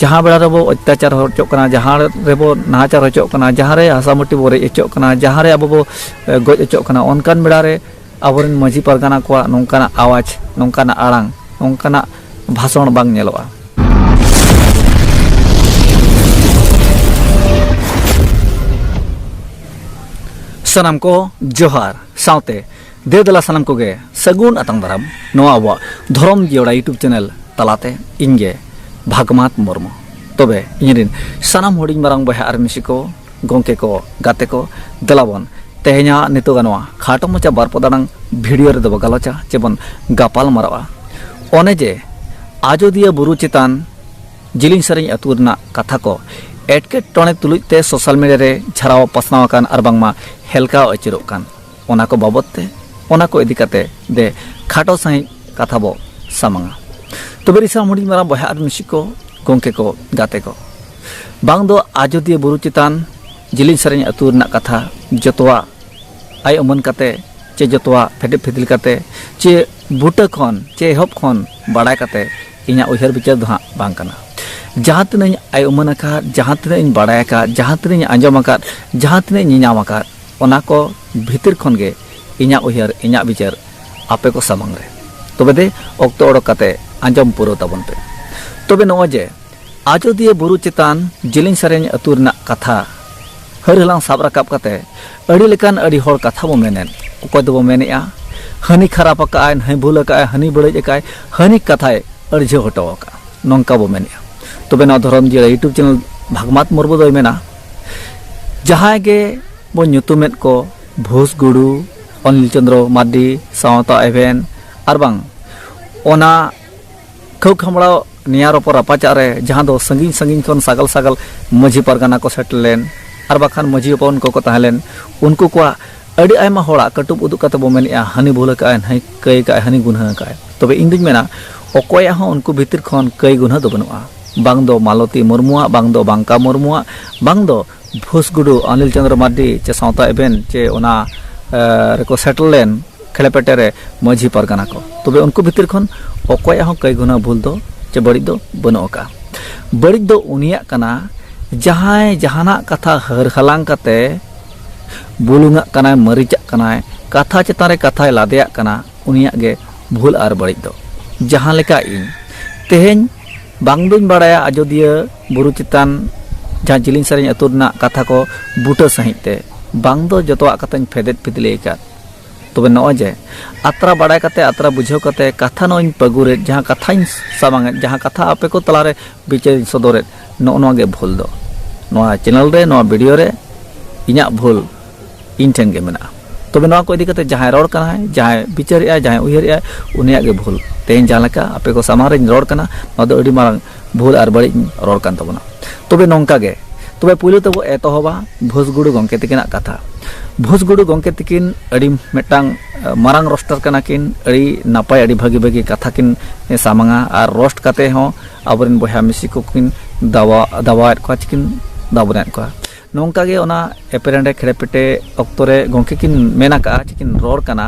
ᱡᱟᱦᱟᱸ ᱵᱮᱲᱟ ᱨᱮᱵᱚ ᱚᱛᱛᱟᱪᱟᱨ ᱦᱚᱪᱚᱜ ᱠᱟᱱᱟ ᱡᱟᱦᱟᱸ ᱨᱮᱵᱚ ᱱᱟᱦᱟᱪᱟᱨ ᱦᱚᱪᱚᱜ ᱠᱟᱱᱟ ᱡᱟᱦᱟᱸ ᱨᱮ ᱦᱟᱥᱟ ᱢᱟᱹᱴᱤ ᱵᱚ ᱨᱮᱡ ᱦᱚᱪᱚᱜ ᱠᱟᱱᱟ ᱡᱟᱦᱟᱸ ᱨᱮ ᱟᱵᱚ ᱵᱚ ᱜᱚᱡ ᱦᱚᱪᱚᱜ ᱠᱟᱱᱟ ᱚᱱᱠᱟᱱ ᱵᱮᱲᱟ ᱨᱮ ᱟᱵᱚᱨᱮᱱ ᱢᱟᱹᱡᱷᱤ ᱯᱟᱨᱜᱟᱱᱟ ᱠᱚᱣᱟᱜ ᱱᱚᱝᱠᱟᱱᱟᱜ ᱟᱣᱟᱡᱽ ᱱᱚᱝᱠᱟᱱᱟᱜ ᱟᱲᱟᱝ ᱱᱚᱝᱠᱟᱱᱟᱜ ᱵᱷᱟᱥᱚᱱ ᱵᱟᱝ ᱧᱮᱞᱚᱜᱼᱟ ᱥᱟᱱᱟᱢ ᱠᱚ ᱡᱚᱦᱟᱨ ᱥᱟᱶᱛᱮ ᱫᱮ ᱫᱮᱞᱟ ᱥᱟᱱᱟᱢ ᱠᱚᱜᱮ ᱥᱟᱹᱜᱩᱱ ᱟᱛᱟᱝ ᱫᱟᱨᱟᱢ ᱱᱚᱣᱟ ᱟᱵᱚᱣᱟᱜ ᱫᱷᱚᱨᱚᱢ ᱡᱤᱭᱚᱲᱟ ᱭᱩᱴᱩᱵᱽ ᱪᱮᱱᱮᱞ ᱛᱟᱞᱟᱛᱮ ᱤᱧᱜᱮ ᱵᱷᱟᱜᱽᱢᱟᱛ ᱢᱩᱨᱢᱩ ᱛᱚᱵᱮ ᱤᱧᱨᱮᱱ ᱥᱟᱱᱟᱢ ᱦᱩᱰᱤᱧ ᱢᱟᱨᱟᱝ ᱵᱚᱭᱦᱟ ᱟᱨ ᱢᱤᱥᱤ ᱠᱚ ᱜᱚᱢᱠᱮ ᱠᱚ ᱜᱟᱛᱮ ᱠᱚ ᱫᱮᱞᱟᱵᱚᱱ ᱛᱮᱦᱮᱧᱟᱜ ᱱᱤᱛᱚᱜ ᱱᱚᱣᱟ ᱠᱷᱟᱴᱚ ᱢᱚᱪᱟ ᱵᱟᱨ ᱯᱚᱫᱟᱲᱟᱝ ᱵᱷᱤᱰᱤᱭᱳ ᱨᱮᱫᱚ ᱵᱚ ᱜᱟᱞᱚᱪᱟ ᱪᱮ ᱵᱚᱱ ᱜᱟᱯᱟᱞ ᱢᱟᱨᱟᱣᱟ ᱚᱱᱮ ᱡᱮ ᱟᱡᱚᱫᱤᱭᱟᱹ ᱵᱩᱨᱩ ᱪᱮᱛᱟᱱ ᱡᱤᱞᱤᱧ ᱥᱮᱨᱮᱧ ᱟᱹᱛᱩ ᱨᱮᱱᱟᱜ ᱠᱟᱛᱷᱟ ᱠᱚ ᱮᱴᱠᱮᱴᱚᱬᱮ ᱛᱩᱞᱩᱡ ᱛᱮ ᱥᱳᱥᱟᱞ ᱢᱤᱰᱤᱭᱟ ᱨᱮ ᱡᱷᱟᱨᱟᱣ ᱯᱟᱥᱱᱟᱣ ᱟᱠᱟᱱ ᱟᱨ ᱵᱟᱝᱢᱟ ᱦᱮᱞᱠᱟᱣ ᱟᱹᱪᱩᱨᱚᱜ ᱠᱟᱱ ᱚᱱᱟ ᱠᱚ ᱵᱟᱵᱚᱛ ᱛᱮ ᱚᱱᱟ ᱠᱚ ᱤᱫᱤ ᱠᱟᱛᱮ ᱫᱮ ᱠᱷᱟᱴᱚ ᱥᱟᱺᱦᱤᱡ ᱠᱟᱛᱷᱟ ᱵᱚ ᱥᱟᱢᱟᱝᱟ ᱛᱚᱵᱮ ᱨᱤᱥᱟᱢ ᱦᱩᱰᱤᱧ ᱢᱟᱨᱟᱝ ᱵᱚᱭᱦᱟ ᱟᱨ ᱢᱤᱥᱤ ᱠᱚ ᱜᱚᱢᱠᱮ ᱠᱚ ᱜᱟᱛᱮ ᱠᱚ ᱵᱟᱝ ᱫᱚ ᱟᱡᱚᱫᱤᱭᱟᱹ ᱵᱩᱨᱩ ᱪᱮᱛᱟᱱ ᱡᱤᱞᱤᱧ ᱥᱮᱨᱮᱧ ᱟᱹᱛᱩ ᱨᱮᱱᱟᱜ ᱠᱟᱛᱷᱟ ᱡᱚᱛᱚᱣᱟᱜ ᱟᱭ ᱩᱢᱟᱹᱱ ᱠᱟᱛᱮ ᱪᱮ ᱡᱚᱛᱚᱣᱟᱜ ᱯᱷᱮᱴᱮᱯ ᱯᱷᱤᱫᱤᱞ ᱠᱟᱛᱮ ᱪᱮ ᱵᱩᱴᱟᱹ ᱠᱷᱚᱱ ᱪᱮ ᱮᱦᱚᱵ ᱠᱷᱚᱱ ᱵᱟᱲᱟᱭ ᱠᱟᱛᱮ ᱤᱧᱟᱹᱜ ᱩᱭᱦᱟᱹᱨ ᱵᱤᱪᱟᱹᱨ ᱫᱚ ᱦᱟᱸᱜ ᱵᱟᱝ ᱠᱟᱱᱟ ᱡᱟᱦᱟᱸ ᱛᱤᱱᱟᱹᱧ ᱟᱭ ᱩᱢᱟᱹᱱ ᱟᱠᱟᱫ ᱡᱟᱦᱟᱸ ᱛᱤᱱᱟᱹᱧ ᱵᱟᱲᱟᱭ ᱟᱠᱟᱫ ᱡᱟᱦᱟᱸ ᱛᱤᱱᱟᱹᱧ ᱟᱸᱡᱚᱢ ᱟᱠᱟᱫ ᱡᱟᱦᱟᱸ ᱛᱤᱱᱟᱹᱧ ᱧᱮᱧᱟᱢ ᱟᱠᱟᱫ ᱚᱱᱟ ᱠᱚ ᱵᱷᱤᱛᱤᱨ ᱠᱷᱚᱱ ᱜᱮ ᱤᱧᱟᱜ ᱩᱭᱦᱟᱹᱨ, ᱤᱧᱟᱜ ᱵᱤᱪᱟᱹᱨ ᱟᱯᱮ ᱠᱚ ᱥᱟᱢᱟᱝ ᱨᱮ᱾ ᱛᱚᱵᱮ ᱫᱮ ᱚᱠᱛᱚ ᱚᱰᱚᱠ ᱠᱟᱛᱮ ᱟᱸᱡᱚᱢ ᱯᱩᱨᱟᱹᱣ ᱛᱟᱵᱚᱱ ᱯᱮ᱾ ᱛᱚᱵᱮ ᱱᱚᱜᱼᱚᱭ ᱡᱮ ᱟᱡᱚᱫᱤᱭᱟᱹ ᱵᱩᱨᱩ ᱪᱮᱛᱟᱱ ᱡᱤᱞᱤᱧ ᱥᱮᱨᱮᱧ ᱟᱹᱛᱩ ᱨᱮᱱᱟᱜ ᱠᱟᱛᱷᱟ ᱦᱟᱹᱨ ᱦᱟᱞᱟᱝ ᱥᱟᱵ ᱨᱟᱠᱟᱵ ᱠᱟᱛᱮ ᱟᱹᱰᱤ ᱞᱮᱠᱟᱱ ᱟᱹᱰᱤ ᱦᱚᱲ ᱠᱟᱛᱷᱟ ᱵᱚ ᱢᱮᱱᱮᱫ, ᱚᱠᱚᱭ ᱫᱚᱵᱚ ᱢᱮᱱᱮᱜᱼᱟ ᱦᱟᱹᱱᱤ ᱠᱷᱟᱨᱟᱯ ᱟᱠᱟᱜ ᱟᱭ, ᱱᱷᱟᱹᱭ ᱵᱷᱩᱞ ᱟᱠᱟᱜ ᱟᱭ, ᱦᱟᱹᱱᱤ ᱵᱟᱹᱲᱤᱡ ᱟᱠᱟᱜ ᱟᱭ, ᱦᱟᱹᱱᱤ ᱠᱟᱛᱷᱟᱭ ᱟᱹᱲᱡᱷᱟᱹᱣ ᱦᱚᱴᱚ ᱟᱠᱟᱜᱼᱟ, ᱱᱚᱝᱠᱟ ᱵᱚ ᱢᱮᱱᱮᱜᱼᱟ᱾ ᱛᱚᱵᱮ ᱱᱚᱣᱟ ᱫᱷᱚᱨᱚᱢ ᱡᱤᱭᱟᱹᱲ ᱭᱩᱴᱩᱵᱽ ᱪᱮᱱᱮᱞ ᱵᱷᱟᱜᱽᱢᱟᱛ ᱢᱩᱨᱢᱩ ᱫᱚᱭ ᱢᱮᱱᱟ᱾ ᱡᱟᱦᱟᱸᱭ ᱜᱮ ᱵᱚᱱ ᱧᱩᱛᱩᱢᱮᱫ ᱠᱚ ᱵᱷᱳᱥ ᱜᱩᱲᱩ ᱚᱱᱤᱞ ᱪᱚᱱᱫᱨᱚ ᱢᱟᱨᱰᱤ ᱥᱟᱶᱛᱟ ᱮᱵᱷᱮᱱ ᱟᱨ ᱵᱟᱝ ᱚᱱᱟ ᱠᱷᱟᱹᱣ ᱠᱷᱟᱢᱲᱟᱣ ᱱᱤᱭᱟ ᱨᱚᱯᱚᱨ ᱨᱟᱯᱟᱪᱟᱜ ᱨᱮ ᱡᱟᱦᱟᱸ ᱫᱚ ᱥᱟᱺᱜᱤᱧ ᱥᱟᱺᱜᱤᱧ ᱠᱷᱚᱱ ᱥᱟᱜᱟᱞ ᱥᱟᱜᱟᱞ ᱢᱟᱹᱡᱷᱤ ᱯᱟᱨᱜᱟᱱᱟ ᱠᱚ ᱥᱮᱴᱮᱨ ᱞᱮᱱ ᱟᱨ ᱵᱟᱠᱷᱟᱱ ᱢᱟᱹᱡᱷᱤ ᱦᱚᱯᱚᱱ ᱠᱚᱠᱚ ᱛᱟᱦᱮᱸ ᱞᱮᱱ ᱩᱱᱠᱩ ᱠᱚᱣᱟᱜ ᱟᱹᱰᱤ ᱟᱭᱢᱟ ᱦᱚᱲᱟᱜ ᱠᱟᱹᱴᱩᱵ ᱩᱫᱩᱜ ᱠᱟᱛᱮ ᱵᱚ ᱢᱮᱱᱮᱜᱼᱟ ᱦᱟᱹᱱᱤ ᱵᱷᱩᱞ ᱟᱠᱟᱜᱼᱟᱭ ᱦᱟᱹᱱᱤ ᱠᱟᱹᱭ ᱟᱠᱟᱜᱼᱟᱭ ᱦᱟᱹᱱᱤ ᱜᱩᱱᱦᱟᱹ ᱟᱠᱟᱜᱼᱟᱭ ᱛᱚᱵᱮ ᱤᱧ ᱫᱩᱧ ᱢᱮᱱᱟ ᱚᱠᱚᱭᱟᱜ ᱦᱚᱸ ᱩᱱᱠᱩ ᱵᱷᱤᱛᱤᱨ ᱠᱷᱚᱱ ᱠᱟᱹᱭ ᱜᱩᱱᱦᱟᱹ ᱫᱚ ᱵᱟᱹᱱᱩᱜᱼᱟ ᱵᱟᱝ ᱫᱚ ᱢᱟᱞᱚᱛᱤ ᱢᱩᱨᱢᱩ ᱟᱜ ᱵᱟᱝ ᱫᱚ ᱵᱟᱝᱠᱟ ᱢᱩᱨᱢᱩ ᱟᱜ ᱵᱟᱝ ᱫᱚ ᱵᱷᱩᱥ ᱜᱩᱰᱩ ᱚᱱᱤᱞ ᱪᱚᱱᱫᱨᱚ ᱢᱟᱨᱰᱤ ᱪᱮ ᱥᱟᱶᱛᱟ ᱮᱵᱷᱮᱱ ᱪᱮ ᱚᱱᱟ ᱨᱮᱠᱚ ᱥᱮᱴᱮᱨ ᱞᱮᱱ ᱠᱷᱮᱲᱮᱯᱮᱴᱮ ᱨᱮ ᱢᱟᱹᱡᱷᱤ ᱯᱟᱨᱜᱟᱱᱟ ᱠᱚ ᱛᱚᱵᱮ ᱩᱱᱠᱩ ᱵᱷᱤᱛᱤᱨ ᱠᱷᱚᱱ ᱚᱠᱚᱭᱟᱜ ᱦᱚᱸ ᱠᱟᱹᱭ ᱜᱩᱱᱟᱹ ᱵᱷᱩᱞ ᱫᱚ ᱪᱮ ᱵᱟᱹᱲᱤᱡ ᱫᱚ ᱵᱟᱹᱱᱩᱜ ᱟᱠᱟᱫᱼᱟ ᱵᱟᱹᱲᱤᱡ ᱫᱚ ᱩᱱᱤᱭᱟᱜ ᱠᱟᱱᱟ ᱡᱟᱦᱟᱸᱭ ᱡᱟᱦᱟᱱᱟᱜ ᱠᱟᱛᱷᱟ ᱦᱟᱹᱨ ᱦᱟᱞᱟᱝ ᱠᱟᱛᱮ ᱵᱩᱞᱩᱝᱟᱜ ᱠᱟᱱᱟᱭ ᱢᱟᱹᱨᱤᱪᱟᱜ ᱠᱟᱱᱟᱭ ᱠᱟᱛᱷᱟ ᱪᱮᱛᱟᱱ ᱨᱮ ᱠᱟᱛᱷᱟᱭ ᱞᱟᱫᱮᱭᱟᱜ ᱠᱟᱱᱟ ᱩᱱᱤᱭᱟᱜ ᱜᱮ ᱵᱷᱩᱞ ᱟᱨ ᱵᱟᱹᱲᱤᱡ ᱫᱚ ᱡᱟᱦᱟᱸ ᱞᱮᱠᱟ ᱤᱧ ᱛᱮᱦᱮᱧ ᱵᱟᱝ ᱫᱩᱧ ᱵᱟᱲᱟᱭᱟ ᱟᱡᱚᱫᱤᱭᱟᱹ ᱵᱩᱨᱩ ᱪᱮᱛᱟᱱ ᱡᱟᱦᱟᱸ ᱡᱤᱞᱤᱧ ᱥᱮᱨᱮᱧ ᱟᱹᱛᱩ ᱨᱮᱱᱟᱜ ᱠᱟᱛᱷᱟ ᱠᱚ ᱵᱩᱴᱟᱹ ᱥᱟᱺᱦᱤᱡ ᱛᱮ ᱵᱟᱝ ᱫᱚ ᱡᱚᱛᱚᱣᱟᱜ ᱠᱟᱛᱷᱟᱧ ᱯᱷᱮᱫᱮᱫ ᱯᱷᱤᱫᱞᱮ ᱟᱠᱟᱫ ᱛᱚᱵᱮ ᱱᱚᱜᱼᱚᱭ ᱡᱮ ᱟᱛᱨᱟ ᱵᱟᱲᱟᱭ ᱠᱟᱛᱮ ᱟᱛᱨᱟ ᱵᱩᱡᱷᱟᱹᱣ ᱠᱟᱛᱮ ᱠᱟᱛᱷᱟ ᱱᱚᱜᱼᱚᱧ ᱯᱟᱹᱜᱩᱨᱮᱫ ᱡᱟᱦᱟᱸ ᱠᱟᱛᱷᱟᱧ ᱥᱟᱢᱟᱝᱮᱫ ᱡᱟᱦᱟᱸ ᱠᱟᱛᱷᱟ ᱟᱯᱮ ᱠᱚ ᱛᱟᱞᱟᱨᱮ ᱵᱤᱪᱟᱹᱨᱤᱧ ᱥᱚᱫᱚᱨᱮᱫ ᱱᱚᱜᱼᱚ ᱱᱚᱣᱟ ᱜᱮ ᱵᱷᱩᱞ ᱫᱚ ᱱᱚᱣᱟ ᱪᱮᱱᱮᱞ ᱨᱮ ᱱᱚᱣᱟ ᱵᱷᱤᱰᱤᱭᱳ ᱨᱮ ᱤᱧᱟᱹᱜ ᱵᱷᱩᱞ ᱤᱧ ᱴᱷᱮᱱ ᱜᱮ ᱢᱮᱱᱟᱜᱼᱟ ᱛᱚᱵᱮ ᱱᱚᱣᱟ ᱠᱚ ᱤᱫᱤ ᱠᱟᱛᱮ ᱡᱟᱦᱟᱸᱭ ᱨᱚᱲ ᱠᱟᱱᱟᱭ ᱡᱟᱦᱟᱸᱭ ᱵᱤᱪᱟᱹᱨᱮᱜᱼᱟᱭ ᱡᱟᱦᱟᱸᱭ ᱩᱭᱦᱟᱹᱨᱮᱜᱼᱟᱭ ᱩᱱᱤᱭᱟᱜ ᱜᱮ ᱵᱷᱩᱞ ᱛᱮᱦᱮᱧ ᱡᱟᱦᱟᱸ ᱞᱮᱠᱟ ᱟᱯᱮ ᱠᱚ ᱥᱟᱢᱟᱝ ᱨᱮᱧ ᱨᱚᱲ ᱠᱟᱱᱟ ᱱᱚᱣᱟ ᱫᱚ ᱟᱹᱰᱤ ᱢᱟᱨᱟᱝ ᱵᱷᱩᱞ ᱟᱨ ᱵᱟᱹᱲᱤᱡ ᱨᱚᱲ ᱠᱟᱱ ᱛᱟᱵᱚᱱᱟ ᱛᱚᱵᱮ ᱱᱚᱝᱠᱟ ᱜᱮ ᱛᱚᱵᱮ ᱯᱩᱭᱞᱩ ᱛᱮᱵᱚ ᱮᱛᱚᱦᱚᱵᱟ ᱵᱷᱩᱥᱜᱩᱲᱩ ᱜᱚᱝᱠᱮ ᱛᱤᱠᱤᱱᱟᱜ ᱠᱟᱛᱷᱟ ᱵᱷᱩᱥᱜᱩᱲᱩ ᱜᱚᱝᱠᱮ ᱛᱤᱠᱤᱱ ᱟᱹᱰᱤ ᱢᱤᱫᱴᱟᱝ ᱢᱟᱨᱟᱝ ᱨᱚᱥᱴᱟᱨ ᱠᱟᱱᱟ ᱠᱤᱱ ᱟᱹᱰᱤ ᱱᱟᱯᱟᱭ ᱟᱹᱰᱤ ᱵᱷᱟᱹᱜᱤ ᱵᱷᱟᱹᱜᱤ ᱠᱟᱛᱷᱟ ᱠᱤᱱ ᱥᱟᱢᱟᱝᱟ ᱟᱨ ᱨᱚᱥᱴ ᱠᱟᱛᱮ ᱦᱚᱸ ᱟᱵᱚᱨᱮᱱ ᱵᱚᱭᱦᱟ ᱢᱤᱥᱤ ᱠᱚᱠᱤᱱ ᱫᱟᱵᱟ ᱫᱟᱵᱟᱣᱮᱫ ᱠᱚᱣᱟ ᱪᱤᱠᱤᱱ ᱫᱟᱵᱚᱱᱮᱫ ᱠᱚᱣᱟ ᱱᱚᱝᱠᱟ ᱜᱮ ᱚᱱᱟ ᱮᱯᱮᱨᱮᱸᱰᱮ ᱠᱷᱮᱲᱮᱯᱮᱴᱮ ᱚᱠᱛᱚ ᱨᱮ ᱜᱚᱢᱠᱮ ᱠᱤᱱ ᱢᱮᱱ ᱟᱠᱟᱜᱼᱟ ᱪᱮ ᱠᱤᱱ ᱨᱚᱲ ᱠᱟᱱᱟ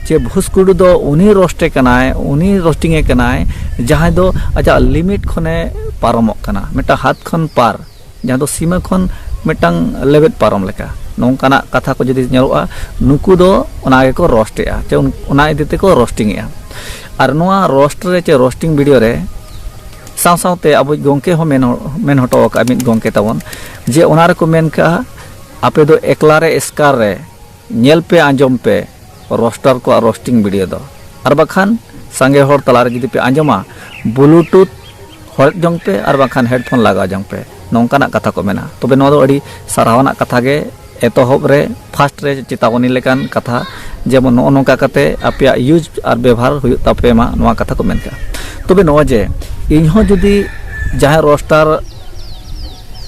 ᱪᱮ ᱵᱷᱩᱥᱠᱩᱰᱩ ᱫᱚ ᱩᱱᱤ ᱨᱳᱥᱴᱮ ᱠᱟᱱᱟᱭ ᱩᱱᱤ ᱨᱳᱥᱴᱤᱝᱮ ᱠᱟᱱᱟᱭ ᱡᱟᱦᱟᱸᱭ ᱫᱚ ᱟᱡᱟᱜ ᱞᱤᱢᱤᱴ ᱠᱷᱚᱱᱮ ᱯᱟᱨᱚᱢᱚᱜ ᱠᱟᱱᱟ ᱢᱤᱫᱴᱟᱝ ᱦᱟᱛ ᱠᱷᱚᱱ ᱯᱟᱨ ᱡᱟᱦᱟᱸ ᱫᱚ ᱥᱤᱢᱟᱹ ᱠᱷᱚᱱ ᱢᱤᱫᱴᱟᱝ ᱞᱮᱵᱮᱫ ᱯᱟᱨᱚᱢ ᱞᱮᱠᱟ ᱱᱚᱝᱠᱟᱱᱟᱜ ᱠᱟᱛᱷᱟ ᱠᱚ ᱡᱩᱫᱤ ᱧᱮᱞᱚᱜᱼᱟ ᱱᱩᱠᱩ ᱫᱚ ᱚᱱᱟ ᱜᱮᱠᱚ ᱨᱳᱥᱴᱮᱜᱼᱟ ᱪᱮ ᱚᱱᱟ ᱤᱫᱤ ᱛᱮᱠᱚ ᱨᱳᱥᱴᱤᱝᱮᱜᱼᱟ ᱟᱨ ᱱᱚᱣᱟ ᱨᱳᱥᱴ ᱨᱮ ᱪᱮ ᱨᱳᱥᱴᱤᱝ ᱵᱷᱤᱰᱤᱭᱳ ᱨᱮ ᱥᱟᱶ ᱥᱟᱶᱛᱮ ᱟᱵᱚᱭᱤᱡ ᱜᱚᱢᱠᱮ ᱦᱚᱸ ᱢᱮᱱ ᱦᱚᱴᱚ ᱟᱠᱟᱫᱼᱟ ᱢᱤᱫ ᱜᱚᱢᱠᱮ ᱛᱟᱵᱚᱱ ᱡᱮ ᱚᱱᱟ ᱨᱮᱠᱚ ᱢᱮᱱ ᱠᱟᱜᱼᱟ ᱟᱯᱮ ᱫᱚ ᱮᱠᱞᱟ ᱨᱮ ᱮᱥᱠᱟᱨ ᱨᱮ ᱧᱮᱞ ᱯᱮ ᱟᱸᱡᱚᱢ ᱯᱮ ᱨᱚᱥᱴᱟᱨ ᱠᱚᱣᱟᱜ ᱨᱚᱥᱴᱤᱝ ᱵᱷᱤᱰᱤᱭᱳ ᱫᱚ ᱟᱨ ᱵᱟᱠᱷᱟᱱ ᱥᱟᱸᱜᱮ ᱦᱚᱲ ᱛᱟᱞᱟ ᱨᱮ ᱡᱩᱫᱤ ᱯᱮ ᱟᱸᱡᱚᱢᱟ ᱵᱞᱩᱴᱩᱛᱷ ᱦᱚᱲᱮᱫ ᱡᱚᱝ ᱯᱮ ᱟᱨ ᱵᱟᱠᱷᱟᱱ ᱦᱮᱰᱯᱷᱳᱱ ᱞᱟᱜᱟᱣ ᱡᱚᱝ ᱯᱮ ᱱᱚᱝᱠᱟᱱᱟᱜ ᱠᱟᱛᱷᱟ ᱠᱚ ᱢᱮᱱᱟ ᱛᱚᱵᱮ ᱱᱚᱣᱟ ᱫᱚ ᱟᱹᱰᱤ ᱥᱟᱨᱦᱟᱣ ᱟᱱᱟᱜ ᱠᱟᱛᱷᱟ ᱜᱮ ᱮᱛᱚᱦᱚᱵ ᱨᱮ ᱯᱷᱟᱥᱴ ᱨᱮ ᱪᱮᱛᱟᱣᱚᱱᱤ ᱞᱮᱠᱟᱱ ᱠᱟᱛᱷᱟ ᱡᱮᱢᱚᱱ ᱱᱚᱜᱼᱚ ᱱᱚᱝᱠᱟ ᱠᱟᱛᱮ ᱟᱯᱮᱭᱟᱜ ᱤᱭᱩᱡᱽ ᱟᱨ ᱵᱮᱵᱷᱟᱨ ᱦᱩᱭᱩᱜ ᱛᱟᱯᱮ ᱢᱟ ᱱᱚᱣᱟ ᱠᱟᱛᱷᱟ ᱠᱚ ᱢᱮᱱ ᱠᱟᱜᱼᱟ ᱛᱚᱵᱮ ᱱᱚᱜᱼᱚᱭ ᱡᱮ ᱤᱧ ᱦᱚᱸ ᱡᱩᱫᱤ ᱡᱟᱦᱟᱸ ᱨᱳᱥᱴᱟᱨ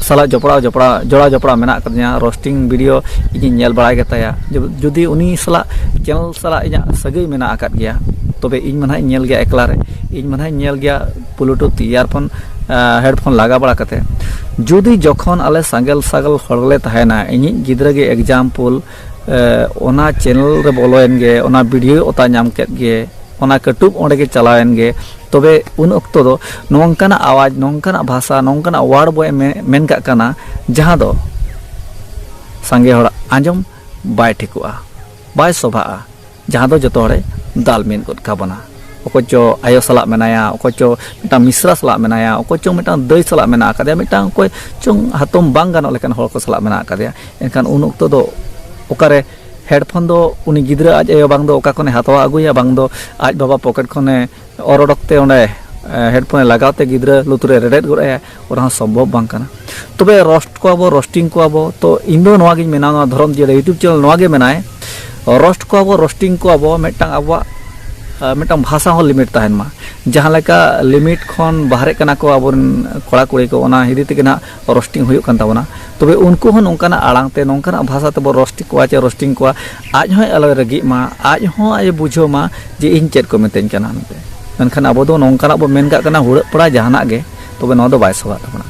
ᱥᱟᱞᱟᱜ ᱡᱚᱯᱲᱟᱣ ᱡᱚᱯᱲᱟᱣ ᱡᱚᱲᱟᱣ ᱡᱚᱯᱲᱟᱣ ᱢᱮᱱᱟᱜ ᱟᱠᱟᱫᱤᱧᱟ ᱨᱳᱥᱴᱤᱝ ᱵᱷᱤᱰᱤᱭᱳ ᱤᱧᱤᱧ ᱧᱮᱞ ᱵᱟᱲᱟᱭ ᱜᱮᱛᱟᱭᱟ ᱡᱩᱫᱤ ᱩᱱᱤ ᱥᱟᱞᱟᱜ ᱪᱮᱱᱮᱞ ᱥᱟᱞᱟᱜ ᱤᱧᱟᱹᱜ ᱥᱟᱹᱜᱟᱹᱭ ᱢᱮᱱᱟᱜ ᱟᱠᱟᱫ ᱜᱮᱭᱟ ᱛᱚᱵᱮ ᱤᱧ ᱢᱟ ᱱᱟᱦᱟᱜ ᱤᱧ ᱧᱮᱞ ᱜᱮᱭᱟ ᱮᱠᱞᱟ ᱨᱮ ᱤᱧ ᱢᱟ ᱱᱟᱦᱟᱜ ᱤᱧ ᱧᱮᱞ ᱜᱮᱭᱟ ᱵᱞᱩᱴᱩᱛᱷ ᱤᱭᱟᱨᱯᱷᱳᱱ ᱦᱮᱰᱯᱷᱳᱱ ᱞᱟᱜᱟ ᱵᱟᱲᱟ ᱠᱟᱛᱮ ᱡᱩᱫᱤ ᱡᱚᱠᱷᱚᱱ ᱟᱞᱮ ᱥᱟᱸᱜᱮᱞ ᱥᱟᱜᱮᱞ ᱦᱚᱲ ᱞᱮ ᱛᱟᱦᱮᱱᱟ ᱤᱧᱤᱡ ᱜᱤᱫᱽᱨᱟᱹ ᱜᱮ ᱮᱠᱡᱟᱢᱯᱩᱞ ᱚᱱᱟ ᱪᱮᱱᱮᱞ ᱨᱮ ᱵᱚᱞᱚᱭᱮᱱ ᱜᱮ ᱚᱱᱟ ᱵᱷᱤᱰᱤᱭᱳ ᱚᱛᱟ ᱧᱟᱢ ᱠᱮᱫ ᱜᱮ ᱚᱱᱟ ᱠᱟᱹᱴᱩᱵ ᱚᱸᱰᱮ ᱜᱮ ᱪᱟᱞᱟᱣᱮᱱ ᱜᱮ ᱛᱚᱵᱮ ᱩᱱ ᱚᱠᱛᱚ ᱫᱚ ᱱᱚᱝᱠᱟᱱᱟᱜ ᱟᱣᱟᱡᱽ ᱱᱚᱝᱠᱟᱱᱟᱜ ᱵᱷᱟᱥᱟ ᱱᱚᱝᱠᱟᱱᱟᱜ ᱣᱟᱨᱰ ᱵᱚ ᱢᱮᱱ ᱠᱟᱜ ᱠᱟᱱᱟ ᱡᱟᱦᱟᱸ ᱫᱚ ᱥᱟᱸᱜᱮ ᱦᱚᱲᱟᱜ ᱟᱸᱡᱚᱢ ᱵᱟᱭ ᱴᱷᱤᱠᱚᱜᱼᱟ ᱵᱟᱭ ᱥᱚᱵᱷᱟᱜᱼᱟ ᱡᱟᱦᱟᱸ ᱫᱚ ᱡᱚᱛᱚ ᱦᱚᱲᱮ ᱫᱟᱞ ᱢᱤᱫ ᱜᱚᱫ ᱠᱟᱵᱚᱱᱟ ᱚᱠᱚᱭ ᱪᱚ ᱟᱭᱳ ᱥᱟᱞᱟᱜ ᱢᱮᱱᱟᱭᱟ ᱚᱠᱚᱭ ᱪᱚ ᱢᱤᱫᱴᱟᱝ ᱢᱤᱥᱨᱟ ᱥᱟᱞᱟᱜ ᱢᱮᱱᱟᱭᱟ ᱚᱠᱚᱭ ᱪᱚ ᱢᱤᱫᱴᱟᱝ ᱫᱟᱹᱭ ᱥᱟᱞᱟᱜ ᱢᱮᱱᱟᱜ ᱟᱠᱟᱫᱮᱭᱟ ᱢᱤᱫᱴᱟᱝ ᱚᱠᱚᱭ ᱪᱚᱝ ᱦᱟᱛᱚᱢ ᱵᱟᱝ ᱜᱟᱱᱚᱜ ᱞᱮᱠᱟᱱ ᱦᱚᱲ ᱠᱚ ᱥᱟᱞᱟᱜ ᱢᱮᱱᱟᱜ ᱟᱠᱟᱫᱮᱭᱟ ᱮᱱᱠᱷᱟᱱ ᱩᱱ ᱚᱠᱛᱚ ᱫᱚ ᱚᱠᱟᱨᱮ ᱦᱮᱰᱯᱷᱳᱱ ᱫᱚ ᱩᱱᱤ ᱜᱤᱫᱽᱨᱟᱹ ᱟᱡ ᱟᱭᱳ ᱵᱟᱝ ᱫᱚ ᱚᱠᱟ ᱠᱷᱚᱱᱮ ᱦᱟᱛᱟᱣ ᱟᱹᱜᱩᱭᱟ ᱵᱟᱝ ᱫᱚ ᱟᱡ ᱵᱟᱵᱟ ᱯᱚᱠᱮᱴ ᱠᱷᱚᱱᱮ ᱚᱨ ᱚᱰᱚᱠ ᱛᱮ ᱚᱸᱰᱮ ᱦᱮᱰᱯᱷᱳᱱᱮ ᱞᱟᱜᱟᱣ ᱛᱮ ᱜᱤᱫᱽᱨᱟᱹ ᱞᱩᱛᱩᱨᱮ ᱨᱮᱵᱮᱫ ᱜᱚᱫ ᱟᱭᱟ ᱚᱱᱟ ᱦᱚᱸ ᱥᱚᱢᱵᱷᱚᱵ ᱵᱟᱝ ᱠᱟᱱᱟ ᱛᱚᱵᱮ ᱨᱚᱥᱴ ᱠᱚᱣᱟ ᱵᱚ ᱨᱚᱥᱴᱤᱝ ᱠᱚᱣᱟ ᱵᱚ ᱛᱚ ᱤᱧ ᱫᱚ ᱱᱚᱣᱟ ᱜᱤᱧ ᱢᱮᱱᱟ ᱱᱚᱣᱟ ᱫᱷᱚᱨᱚᱢ ᱡᱤᱭᱟᱹᱲ ᱤᱭᱩᱴᱩᱵᱽ ᱪᱮᱱᱮᱞ ᱱᱚᱣᱟ ᱜᱮ ᱢᱮᱱᱟᱭ ᱨᱚᱥᱴ ᱠᱚᱣᱟ ᱵᱚ ᱨᱚᱥᱴᱤᱝ ᱠᱚᱣᱟ ᱵᱚ ᱢᱤᱫᱴᱟᱝ ᱟᱵᱚᱣᱟᱜ ᱢᱤᱫᱴᱟᱝ ᱵᱷᱟᱥᱟ ᱦᱚᱸ ᱞᱤᱢᱤᱴ ᱛᱟᱦᱮᱱ ᱢᱟ ᱡᱟᱦᱟᱸ ᱞᱮᱠᱟ ᱞᱤᱢᱤᱴ ᱠᱷᱚᱱ ᱵᱟᱦᱨᱮ ᱠᱟᱱᱟ ᱠᱚ ᱟᱵᱚᱨᱮᱱ ᱠᱚᱲᱟ ᱠᱩᱲᱤ ᱠᱚ ᱚᱱᱟ ᱦᱤᱫᱤ ᱛᱮᱜᱮ ᱱᱟᱜ ᱨᱚᱥᱴᱤᱝ ᱦᱩᱭᱩᱜ ᱠᱟᱱ ᱛᱟᱵᱚᱱᱟ ᱛᱚᱵᱮ ᱩᱱᱠᱩ ᱦᱚᱸ ᱱᱚᱝᱠᱟᱱᱟᱜ ᱟᱲᱟᱝ ᱛᱮ ᱱᱚᱝᱠᱟᱱᱟᱜ ᱵᱷᱟᱥᱟ ᱛᱮᱵᱚ ᱨᱚᱥᱴᱤᱝ ᱠᱚᱣᱟ ᱪᱮ ᱨᱚᱥᱴᱤᱝ ᱠᱚᱣᱟ ᱟᱡ ᱦᱚᱸᱭ ᱟᱞᱚᱭ ᱨᱟᱹᱜᱤᱜ ᱢᱟ ᱟᱡ ᱦᱚᱸ ᱟᱡ ᱵᱩᱡᱷᱟᱹᱣ ᱢᱟ ᱡᱮ ᱤᱧ ᱪᱮᱫ ᱠᱚ ᱢᱤᱛᱟᱹᱧ ᱠᱟᱱᱟ ᱢᱮᱱᱛᱮ ᱢᱮᱱᱠᱷᱟᱱ ᱟᱵᱚ ᱫᱚ ᱱᱚᱝᱠᱟᱱᱟᱜ ᱵᱚ ᱢᱮᱱ ᱠᱟᱜ ᱠᱟᱱᱟ ᱦᱩᱲᱟᱹᱜ ᱯᱟᱲᱟᱜ ᱡᱟᱦᱟᱱᱟᱜ ᱜᱮ ᱛᱚᱵᱮ ᱱᱚᱣᱟ ᱫᱚ ᱵᱟᱭ ᱥᱚᱵᱷᱟᱜ ᱛᱟᱵᱚᱱᱟ